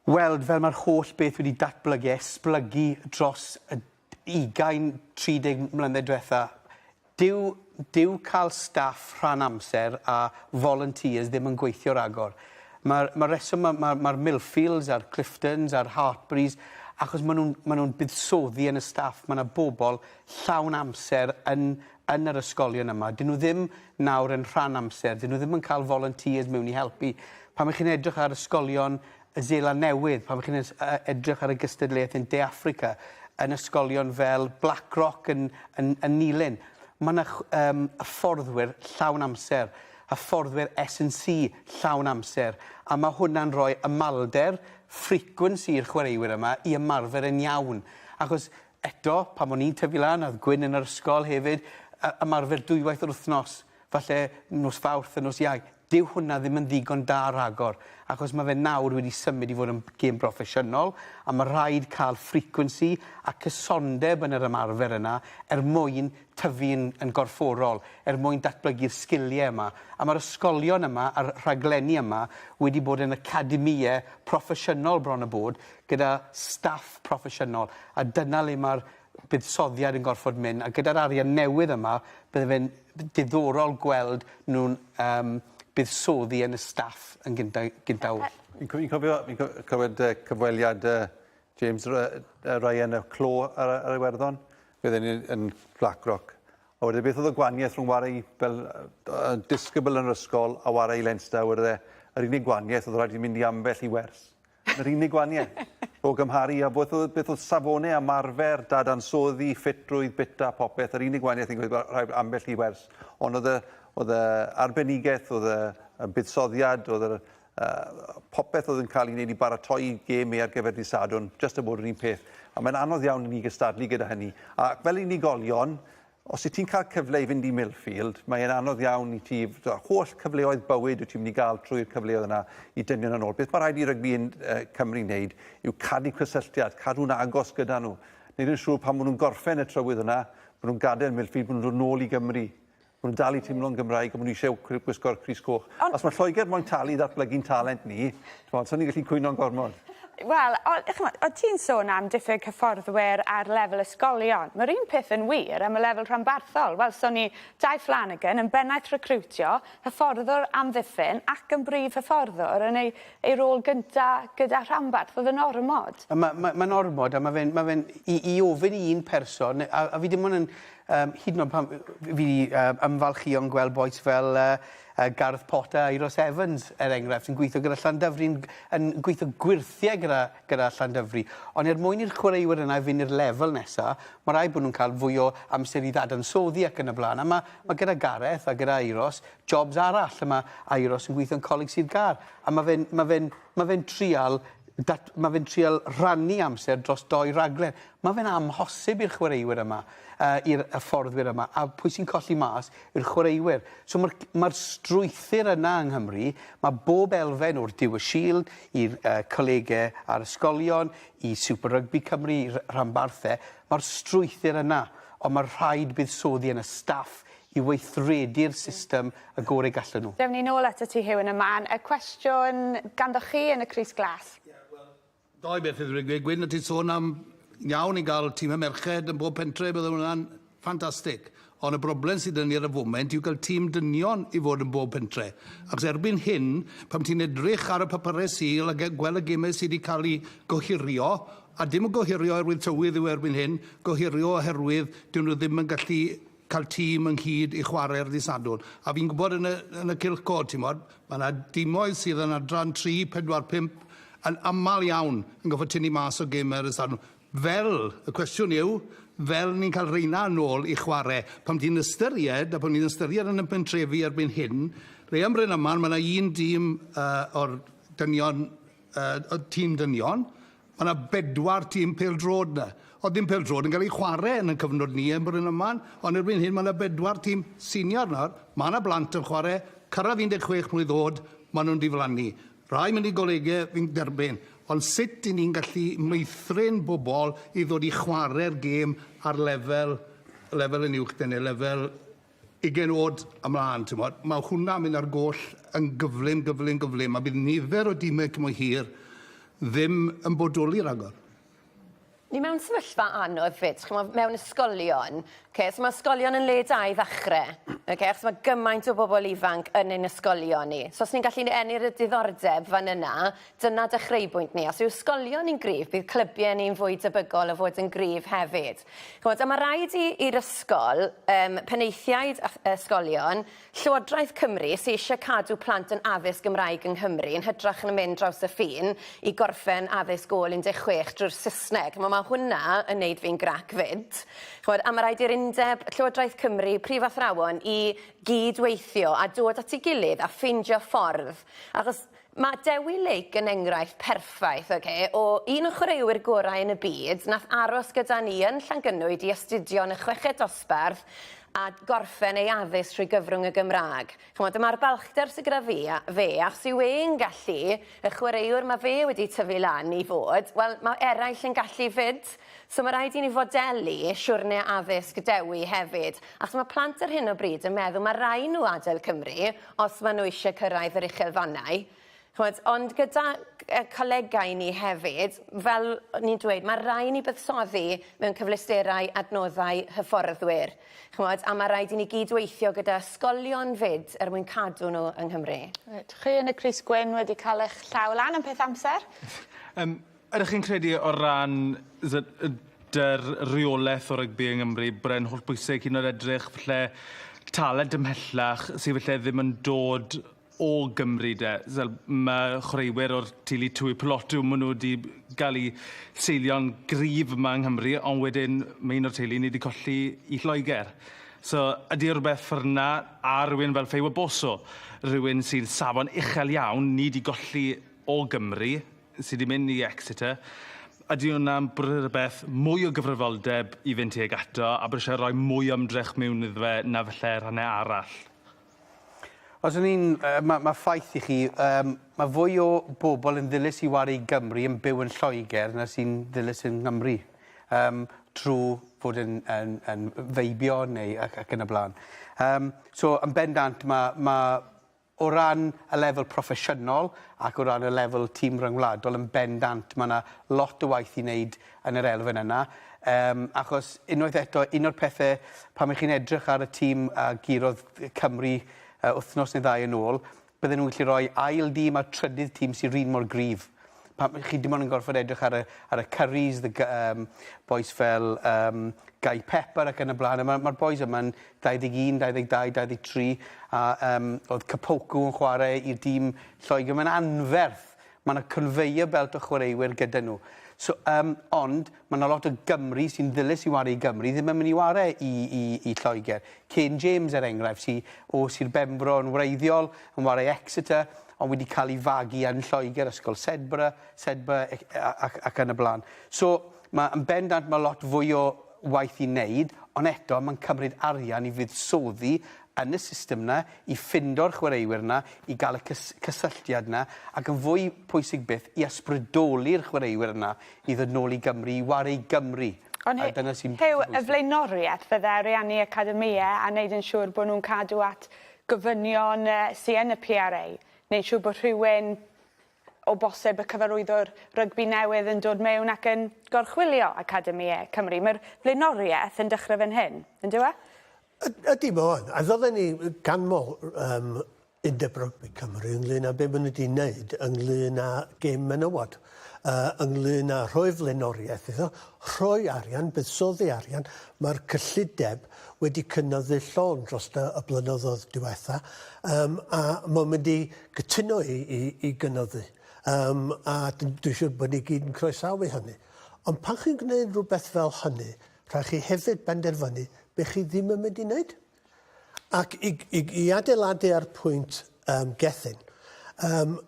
weld fel ma'r holl beth wedi datblygu a esblygu dros y d- ugain, tri deg mlynedd dwetha. Dyw dyw ca'l staff rhan amser a volunteers ddim yn gweithio ragor. Ma'r ma'r reswm ma' ma' ma'r Millfields a'r Cliftons a'r Hartburys achos ma' nw'n ma' nw'n buddsoddi yn y staff ma' 'na bobol llawn amser yn yn yr ysgolion yma. 'Dyn nhw ddim nawr yn rhan amser, 'dyn nhw ddim yn cael volunteers mewn i helpu. Pan mae chi'n edrych ar ysgolion y Zeeland Newydd, pan mae chi'n e, edrych ar y gystadleuaeth yn De Affrica, yn ysgolion fel Blackrock yn, yn, yn Nilyn, mae yna um, hyfforddwyr llawn amser, hyfforddwyr S&C llawn amser, a mae hwnna'n rhoi ymalder, frequency i'r chwaraewyr yma i ymarfer yn iawn. Achos Eto, pan o'n i'n tyfu lan, o'dd Gwyn yn yr ysgol hefyd, yy ymarfer dwywaith yr wthnos, falle nos Fawrth a nos Iau. Dyw hwnna ddim yn ddigon da rhagor, achos ma' fe nawr wedi symud i fod yn gêm broffesiynol, a ma' rhaid ca'l frequency a cysondeb yn yr ymarfer yna er mwyn tyfu yn yn gorfforol, er mwyn datblygu'r sgilie yma. A ma'r ysgolion yma a'r rhaglenni yma wedi bod yn academïe proffesiynol bron a bod, gyda staff proffesiynol, a dyna le mae'r buddsoddiad yn gorfod mynd, a gyda'r arian newydd yma, bydde fe'n diddorol gweld nhw'n um, buddsoddi yn y staff yn gyntaf. Gynta Fi'n cofio, fi'n cofio cyfweliad uh, James Ryan y clo ar, ar Iwerddon, fe ddyn yn Blackrock. A wedyn beth oedd y gwaniaeth rhwng warai fel uh, disgybl yn yr ysgol a warai Leinster, wedyn e, yr unig gwaniaeth oedd rhaid i mynd i ambell i wers. Yr unig waniaeth, o gymharu â beth oedd, beth oedd safone a marfer, dadansoddi, ffitrwydd, bita, popeth, yr unig waniaeth fi'n credu rhaid ambell i wers. Ond oedd y, oedd y arbenigaeth, oedd y, y buddsoddiad, oedd yr, uh, popeth oedd yn cael ei wneud i baratoi gêm ei ar gyfer di Sadwn, just yn bod yr un peth. A mae'n anodd iawn i ni gystadlu gyda hynny. A fel unigolion, Os wyt ti'n cael cyfle i fynd i Millfield, mae e'n anodd iawn i ti, y holl cyfleoedd bywyd wyt ti'n mynd i gael trwy'r cyfleoedd yna i dynion yn ôl. Beth mae rhaid i rygbi yn uh, Cymru wneud yw cadw cysylltiad, cadw'n agos gyda nhw. Wneud yn siŵr pan maen nhw'n gorffen y trywydd yna, maen nhw'n gadael Millfield, maen nhw'n dod nôl i Gymru. Maen nhw'n dal i teimlo'n Gymraeg a maen nhw eisiau gwisgo'r Cris Coch. Ond... Os mae Lloegr moyn talu i ddatblygu'n talent ni, T'mod swn i'n gallu cwyno'n gormod. Wel o- yy ch'mod o' ti'n sôn am diffyg hyfforddwyr ar lefel ysgolion ma'r un peth yn wir am y lefel rhanbarthol welson ni Dai Flanagan yn bennaeth recriwtio hyfforddwr amddiffyn ac yn brif hyfforddwr yn ei ei rôl gynta gyda rhanbarth o'dd yn ormod. A ma' ma' ma'n ormod a ma' fe'n ma' fe'n i i ofyn i un person ne- a a fi dim on' yn yym hyd yn o'd pan f- fi 'di yy ymfalchïo yn gweld bois fel yy Yy Gareth Porter a Euros Evans er enghraifft yn gweithio gyda Llandyfri yn yn gweithio gwyrthiau gyda gyda Llandyfri ond er mwyn i'r chwaraewyr yna fynd i'r lefel nesa ma' raid bod nhw'n cael fwy o amser i ddadansoddi ac yn y blaen a ma' ma' gyda Gareth a gyda Euros jobs arall a ma' a Euros yn gweithio'n Coleg Sir Gâr a ma' fe'n ma' fe'n ma' fe'n trial dat- ma' fe'n trial rhannu amser dros dou raglen ma' fe'n amhosib i'r chwaraewyr yma yy i'r hyfforddwyr yma a pwy sy'n colli mas i'r chwaraewyr. So mae'r mae'r strwythur yna yng Nghymru, mae bob elfen o'r Duw y Shield i'r uh, colegau a'r ysgolion, i Super Rugby Cymru, i rhanbarthau, mae'r strwythur yna, ond mae rhaid buddsoddi yn y staff i weithredu'r system y gorau gallen nhw. Dewn ni nôl at y ti Hugh yn y man. Y cwestiwn ganddoch chi yn y Crys Glas. Yeah, well, Doi beth fydd wedi gwyn y ti sôn am iawn i gael tîm y merched yn bob pentre, bydd hwnna'n ffantastig. Ond y broblem sydd yn ni ar y foment yw cael tîm dynion i fod yn bob pentre. Ac erbyn hyn, pam ti'n edrych ar y papurau syl a gweld y gemau sydd wedi cael eu gohirio, a dim yn gohirio oherwydd tywydd yw erbyn hyn, gohirio oherwydd dyn nhw ddim yn gallu cael tîm ynghyd i chwarae'r ddydd Sadwrn. A fi'n gwybod yn y, yn y cylch cod, ti'n modd, mae yna dimoedd sydd yn adran 3, 4, 5, yn aml iawn yn gofod tynnu mas o gym ar y Sadwrn. Fel, y cwestiwn yw, fel ni'n cael reina yn ôl i chwarae, pam ti'n ystyried, a bod ni'n ystyried yn y pentrefi erbyn hyn, le am Bryn Aman, mae yna un dîm uh, o'r dynion, uh, tîm dynion, Ma' 'na bedwar tîm pêl-droed 'na. O'dd dim pêl-droed yn ga'l ei chware yn 'yn cyfnod ni yn Bryn Aman, ond erbyn hyn ma' 'na bedwar tîm senior nawr, ma' 'na blant yn chware, cyrradd 16 mlwydd o'd, ma' nhw'n diflannu. Rai mynd i golege, fi'n derbyn, ond sut 'yn ni'n gallu meithrin bobol i ddod i chware'r gêm ar lefel lefel yn uwch 'da ni, lefel 20 oed ymlaen, timod, mae hwnna'n mynd ar goll yn gyflym, gyflym, gyflym, a bydd nifer o dimau cymwy hir ddim yn bodoli rhagor. Ni mewn sefyllfa anodd fyd, chi'n meddwl, mewn ysgolion. Okay, so mae ysgolion yn le da i ddechrau, okay, achos mae gymaint o bobl ifanc yn ein ysgolion ni. So os ni'n gallu ennill y diddordeb fan yna, Dyna dechreuybwynt ni. Os yw ysgolion ni'n gryf, bydd clybiau ni'n fwy debygol o fod yn gryf hefyd. Chimod, a mae rhaid i, i'r ysgol, um, penaethiaid a ysgolion, Llywodraeth Cymru, sy'n eisiau cadw plant yn addysg Gymraeg yng Nghymru, yn hydrach yn mynd draws y ffin i gorffen addysg ôl 16 drwy'r Saesneg. Chimod, mae hwnna yn neud fi'n grac fyd. Chimod, a mae rhaid i'r undeb, Llywodraeth Cymru, prif athrawon, i gyd-weithio a dod at ei gilydd a ffeindio ffordd. Achos Mae Dewi Lake yn enghraifft perffaith, oce, o un o chwaraewyr gorau yn y byd, nath aros gyda ni yn Llangynwyd i astudio yn y chweched dosbarth a gorffen ei addysg trwy gyfrwng y Gymraeg. Ch'mod, dyma'r balchder sy gyda fi a fe, achos yw e'n gallu, y chwaraewr ma' fe wedi tyfu lan i fod, wel, ma' eraill yn gallu 'fyd. So ma' raid i ni fodelu siwrne addysg Dewi hefyd, achos ma' plant ar hyn o bryd yn meddwl ma' rai' nhw adael Cymru, os maen nhw eisiau cyrraedd yr uchelfannau, chimod, ond gyda y colegau ni hefyd, fel o'n i'n dweud, mae rhaid i ni buddsoddi mewn cyfleusterau adnoddau hyfforddwyr, chimod, a mae rhaid i ni gyd-weithio gyda ysgolion 'fyd er mwyn cadw nhw yng Nghymru. Reit, chi yn y crys gwyn wedi cael eich llaw lan am peth amser. Yym. Ydych chi'n credu o ran dy'r reolaeth o rygbi yng Nghymru bod e'n hollbwysig hyd yn oed edrych falle talent ymhellach sy falle ddim yn dod o Gymru de? Fel ma' chwaraewyr o'r teulu Tui Peloto ma' nhw 'di ga'l 'u seilio'n gryf yma yng Nghymru ond wedyn ma' un o'r teulu ni 'di colli i Lloeger. So ydi e rwbeth ffor 'na a rywun fel Feiwa Bosso rywun sy'n safon uchel iawn ni 'di golli o Gymru sy 'di mynd i Exeter ydi wnna'n bwrw rwbeth mwy o gyfrifoldeb i fynd tuag ato a bod isie roi mwy o ymdrech miwn iddo fe na falle rhanne arall? Os o'n i'n yy ma' ma' ffaith i chi yym ma' fwy o bobl yn ddilys i waru i Gymru yn byw yn Lloegr na sy'n ddilys yng Nghymru yym trw fod yn yn yn feibio neu ac ac yn y bla'n. Yym so yn bendant ma' ma' O ran y lefel proffesiynol ac o ran y lefel tîm ryngwladol yn bendant mae yna lot o waith i wneud yn yr elfen yna yym achos unwaith eto un o'r pethe pan ych chi'n edrych ar y tîm a gurodd Cymru uh, wythnos neu ddau yn ôl bydden nhw'n gallu rhoi ail dîm a'r trydydd tîm sy'n rhin mor gryf pan chi dim ond yn gorfod edrych ar y, ar y Curries, the, um, boys fel um, Guy Pepper ac yn y blaen. Mae'r ma boys yma'n 21, 22, 23 a um, oedd Capoku yn chwarae i'r dîm Lloegr. Mae'n anferth. Mae yna conveyor belt o chwaraewyr gyda nhw. So, um, ond mae yna lot o Gymru sy'n ddilys i wario i Gymru, ddim yn mynd i wario i, i, i Lloegr. Kane James er enghraifft, sy'n o Sir Benfro yn wreiddiol, yn wario Exeter, ond wedi cael ei fagu yn Lloegr, ysgol Sedbra, Sedbra ac, ac, ac yn y blaen. So, mae yn bendant mae lot fwy o waith i neud, ond eto ma'n cymryd arian i fuddsoddi yn y system 'na, i ffindo'r chwaraewyr 'na, i ga'l y cys- cysylltiad 'na, ac yn fwy pwysig byth, i ysbrydoli'r chwaraewyr yna i ddod nôl i Gymru, i ware i Gymru. Ond Hy- a dyna sy'n Huw, bwysig. y flaenoriaeth fydde ariannu academïau a neud yn siŵr bod nhw'n cadw at gofynion yy sy yn y PRA, neud siŵr bod rhywun o bosib y cyfarwyddwr rygbi newydd yn dod mewn ac yn gorchwylio Academi E Cymru. Mae'r flaenoriaeth yn dechrau fan hyn, yn dyw e? Yd- ydy, mae o yn. A fydden ni ganmol um, Undeb Rygbi Cymru ynglyn â be maen nhw wedi wneud ynglyn â gêm menywod, uh, ynglyn â rhoi flaenoriaeth iddo, rhoi arian, buddsoddi arian. Mae'r cyllideb wedi cynyddu llon dros y blynyddoedd diwetha, um, a mae'n mynd i cytuno i, i, i gynyddu. Um, a dwi'n siŵr bod ni gyd yn croesawu hynny. Ond pan chi'n gwneud rhywbeth fel hynny, rhaid chi hefyd benderfynu be chi ddim yn mynd i wneud. Ac i, i, i adeiladu ar pwynt um, Gethin, um,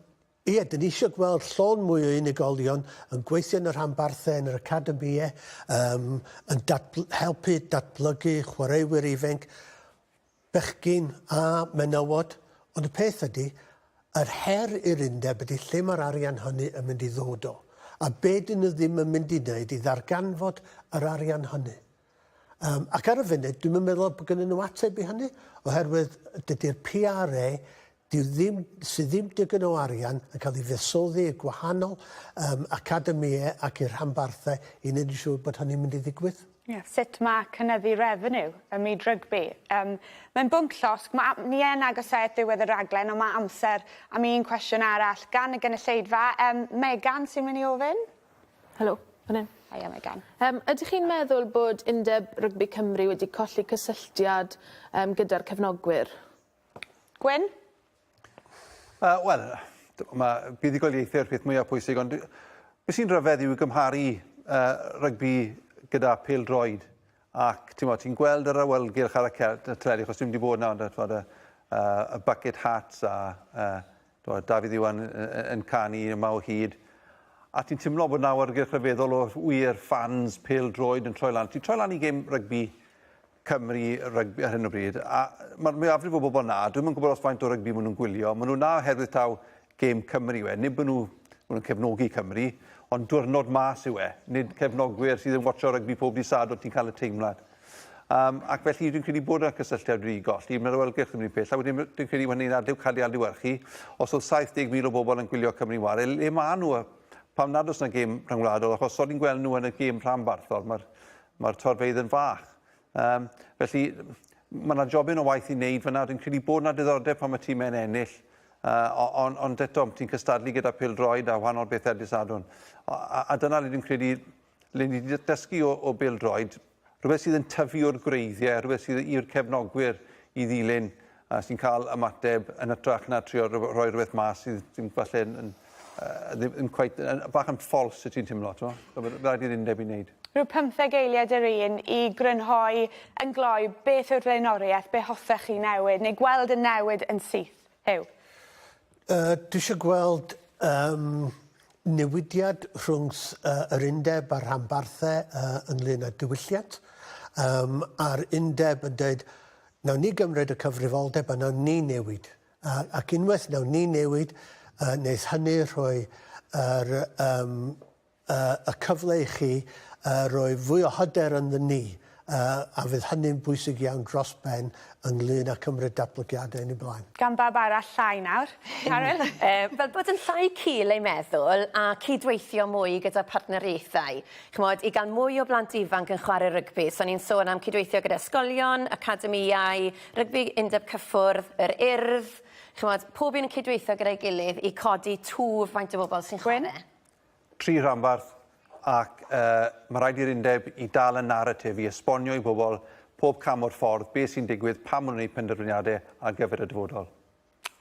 Ie, dyn ni eisiau gweld llon mwy o unigolion yn gweithio yn y rhanbarthau, yn yr academie, um, yn datbl helpu datblygu chwaraewyr ifanc. bechgyn a menywod, ond y peth ydy, yr her i'r undeb ydy lle mae'r arian hynny yn mynd i ddod o, a be dyn nhw ddim yn mynd i wneud i ddarganfod yr arian hynny. Um, ac ar y funud, dwi'm yn meddwl bod gynnyn nhw ateb i hynny, oherwydd dydy'r PRA Dyw ddim, sydd ddim digon o arian yn cael ei fuddsoddi i gwahanol um, academïau ac i'r rhanbarthau i wneud yn siŵr bod hynny'n mynd i ddigwydd. Yeah. Sut mae cynyddu refeniw ym myd rygbi? Um, Mae'n bwnc llosg. Mae, ni yn agosáu at ddiwedd y raglen, ond mae amser am un cwestiwn arall gan y gynulleidfa. Um, Megan sy'n mynd i ofyn? Helo, fan hyn. Haia Megan. Um, ydych chi'n meddwl bod Undeb Rygbi Cymru wedi colli cysylltiad um, gyda'r cefnogwyr? Gwyn? Uh, Wel, mae buddugoliaethau yw'r peth mwyaf pwysig, ond beth sy'n rhyfedd yw gymharu uh, rygbi gyda pêl droed ac ti'n ti gweld yr awelgylch ar y teledu, achos dwi'n wedi bod na, ond y, y bucket hats a uh, Dwa, Dafydd Iwan yn canu yma o hyd. A ti'n teimlo bod nawr gyda rhyfeddol o wir ffans pel droed yn troi lan. Ti'n troi lan i gêm rygbi Cymru rygbi ar hyn o bryd, a mae'r mwyafrif o bobl na, dwi'n yn gwybod os faint o rygbi maen nhw'n gwylio, maen nhw na oherwydd taw gêm Cymru yw e, nid maen nhw, maen nhw'n cefnogi Cymru, ond diwrnod mas yw e, nid cefnogwyr sydd yn watcho rygbi pob dydd sad o ti'n cael y teimlad. Um, ac felly dwi'n credu bod yna cysylltiad wedi golli, mae'n rhywelgyrch yn un peth, a wedyn dwi'n credu mae'n ein adliw cael ei adliwyrchu, os oedd 70,000 o bobl yn gwylio Cymru Ware, le maen nhw, pam nad oes yna gêm rhyngwladol, achos so ni'n gweld nhw yn y gêm rhanbarthol, mae'r Mae'r torfeydd yn fach. Um, felly, mae yna jobyn o waith i wneud fyna. Dwi'n credu bod yna diddordeb pan mae tîmau'n ennill. Uh, ond on, on eto, ti'n cystadlu gyda pil droed a wahanol bethau disadwn. A, a, a dyna le dwi'n credu, le ni wedi dysgu o, o bil droed, rhywbeth sydd yn tyfu o'r gwreiddiau, rhywbeth sydd i'r cefnogwyr i ddilyn a sy'n cael ymateb yn hytrach na trio rhoi rhywbeth mas sydd ddim falle yn, yn uh, ddim, ddim quite, yn, bach yn false y ti'n timlo, ti'n mo? Rhaid i'r undeb i wneud. Rhyw pymtheg eiliad yr un i grynhoi yn gloi beth yw'r flaenoriaeth, be hoffech chi newid neu gweld yn newid yn syth, Huw? Yy dwi isio gweld yym newidiad rhwngth yy yr undeb a'r rhanbarthe yy ynglŷn â diwylliant yym a'r undeb yn deud nawn ni gymryd y cyfrifoldeb a nawn ni newid a ac unwaith nawn ni newid yy neith hynny rhoi yr yym y cyfle i chi roi fwy o hyder ynddyn ni, a fydd hynny'n bwysig iawn dros ben ynglŷn â cymryd datblygiadau yn eu blaen. Gan bawb arall llai nawr, Caryl. Fel bod yn llai cul ei meddwl a cydweithio mwy gyda partneriaethau. Ch'mod, i gael mwy o blant ifanc yn chwarae rygbi. So ni'n sôn am cydweithio gyda ysgolion, academïau, rygbi undeb cyffwrdd, yr Urdd, ch'mod, pob un yn cydweithio gyda'i gilydd i codi twf faint o bobl sy'n chwarae. Gwyn? tri rhanbarth ac uh, mae rhaid i'r undeb i dal y narratif i esbonio i bobl pob cam o'r ffordd beth sy'n digwydd pan maen nhw'n gwneud penderfyniadau ar gyfer y dyfodol.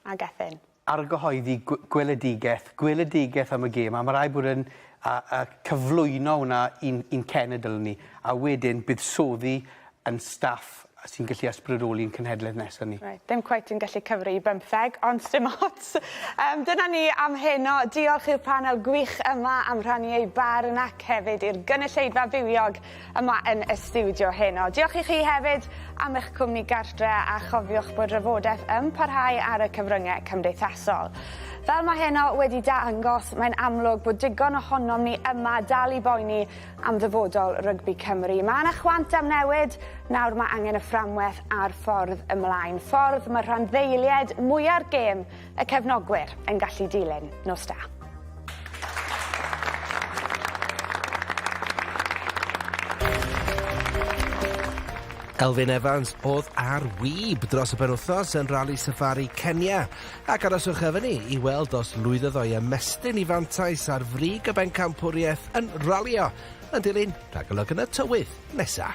A Gethin. Argyhoeddi gweledigaeth, gweledigaeth am y gêm a mae rhaid bod yn a, a cyflwyno hwnna i'n, in cenedl ni a wedyn buddsoddi yn staff a sy'n gallu ysbrydoli ein cenhedlaeth nesaf ni. Reit, ddim cweit yn gallu cyfri i bymtheg, ond sdim ots. Um, dyna ni am heno. Diolch i'r panel gwych yma am rhannu eu barn ac hefyd i'r gynulleidfa fywiog yma yn y studio heno. Diolch i chi hefyd am eich cwmni gartre a chofiwch bod rhywodaeth yn parhau ar y cyfryngau cymdeithasol. Fel mae heno wedi dangos, mae'n amlwg bod digon ohonom ni yma dal i boeni am ddyfodol rygbi Cymru. Mae yna chwant am newid, nawr mae angen y fframwaith a'r ffordd ymlaen, ffordd mae'r rhanddeiliaid mwya'r gêm, y cefnogwyr, yn gallu dilyn. Nos da. Elfyn Evans oedd ar wib dros y penwythnos yn Rali Safari Kenya. Ac aroswch efo ni i weld os lwyddodd o i ymestyn 'i fantais ar frig y bencampwriaeth yn ralio yn dilyn rhagolwg yn y tywydd nesa'.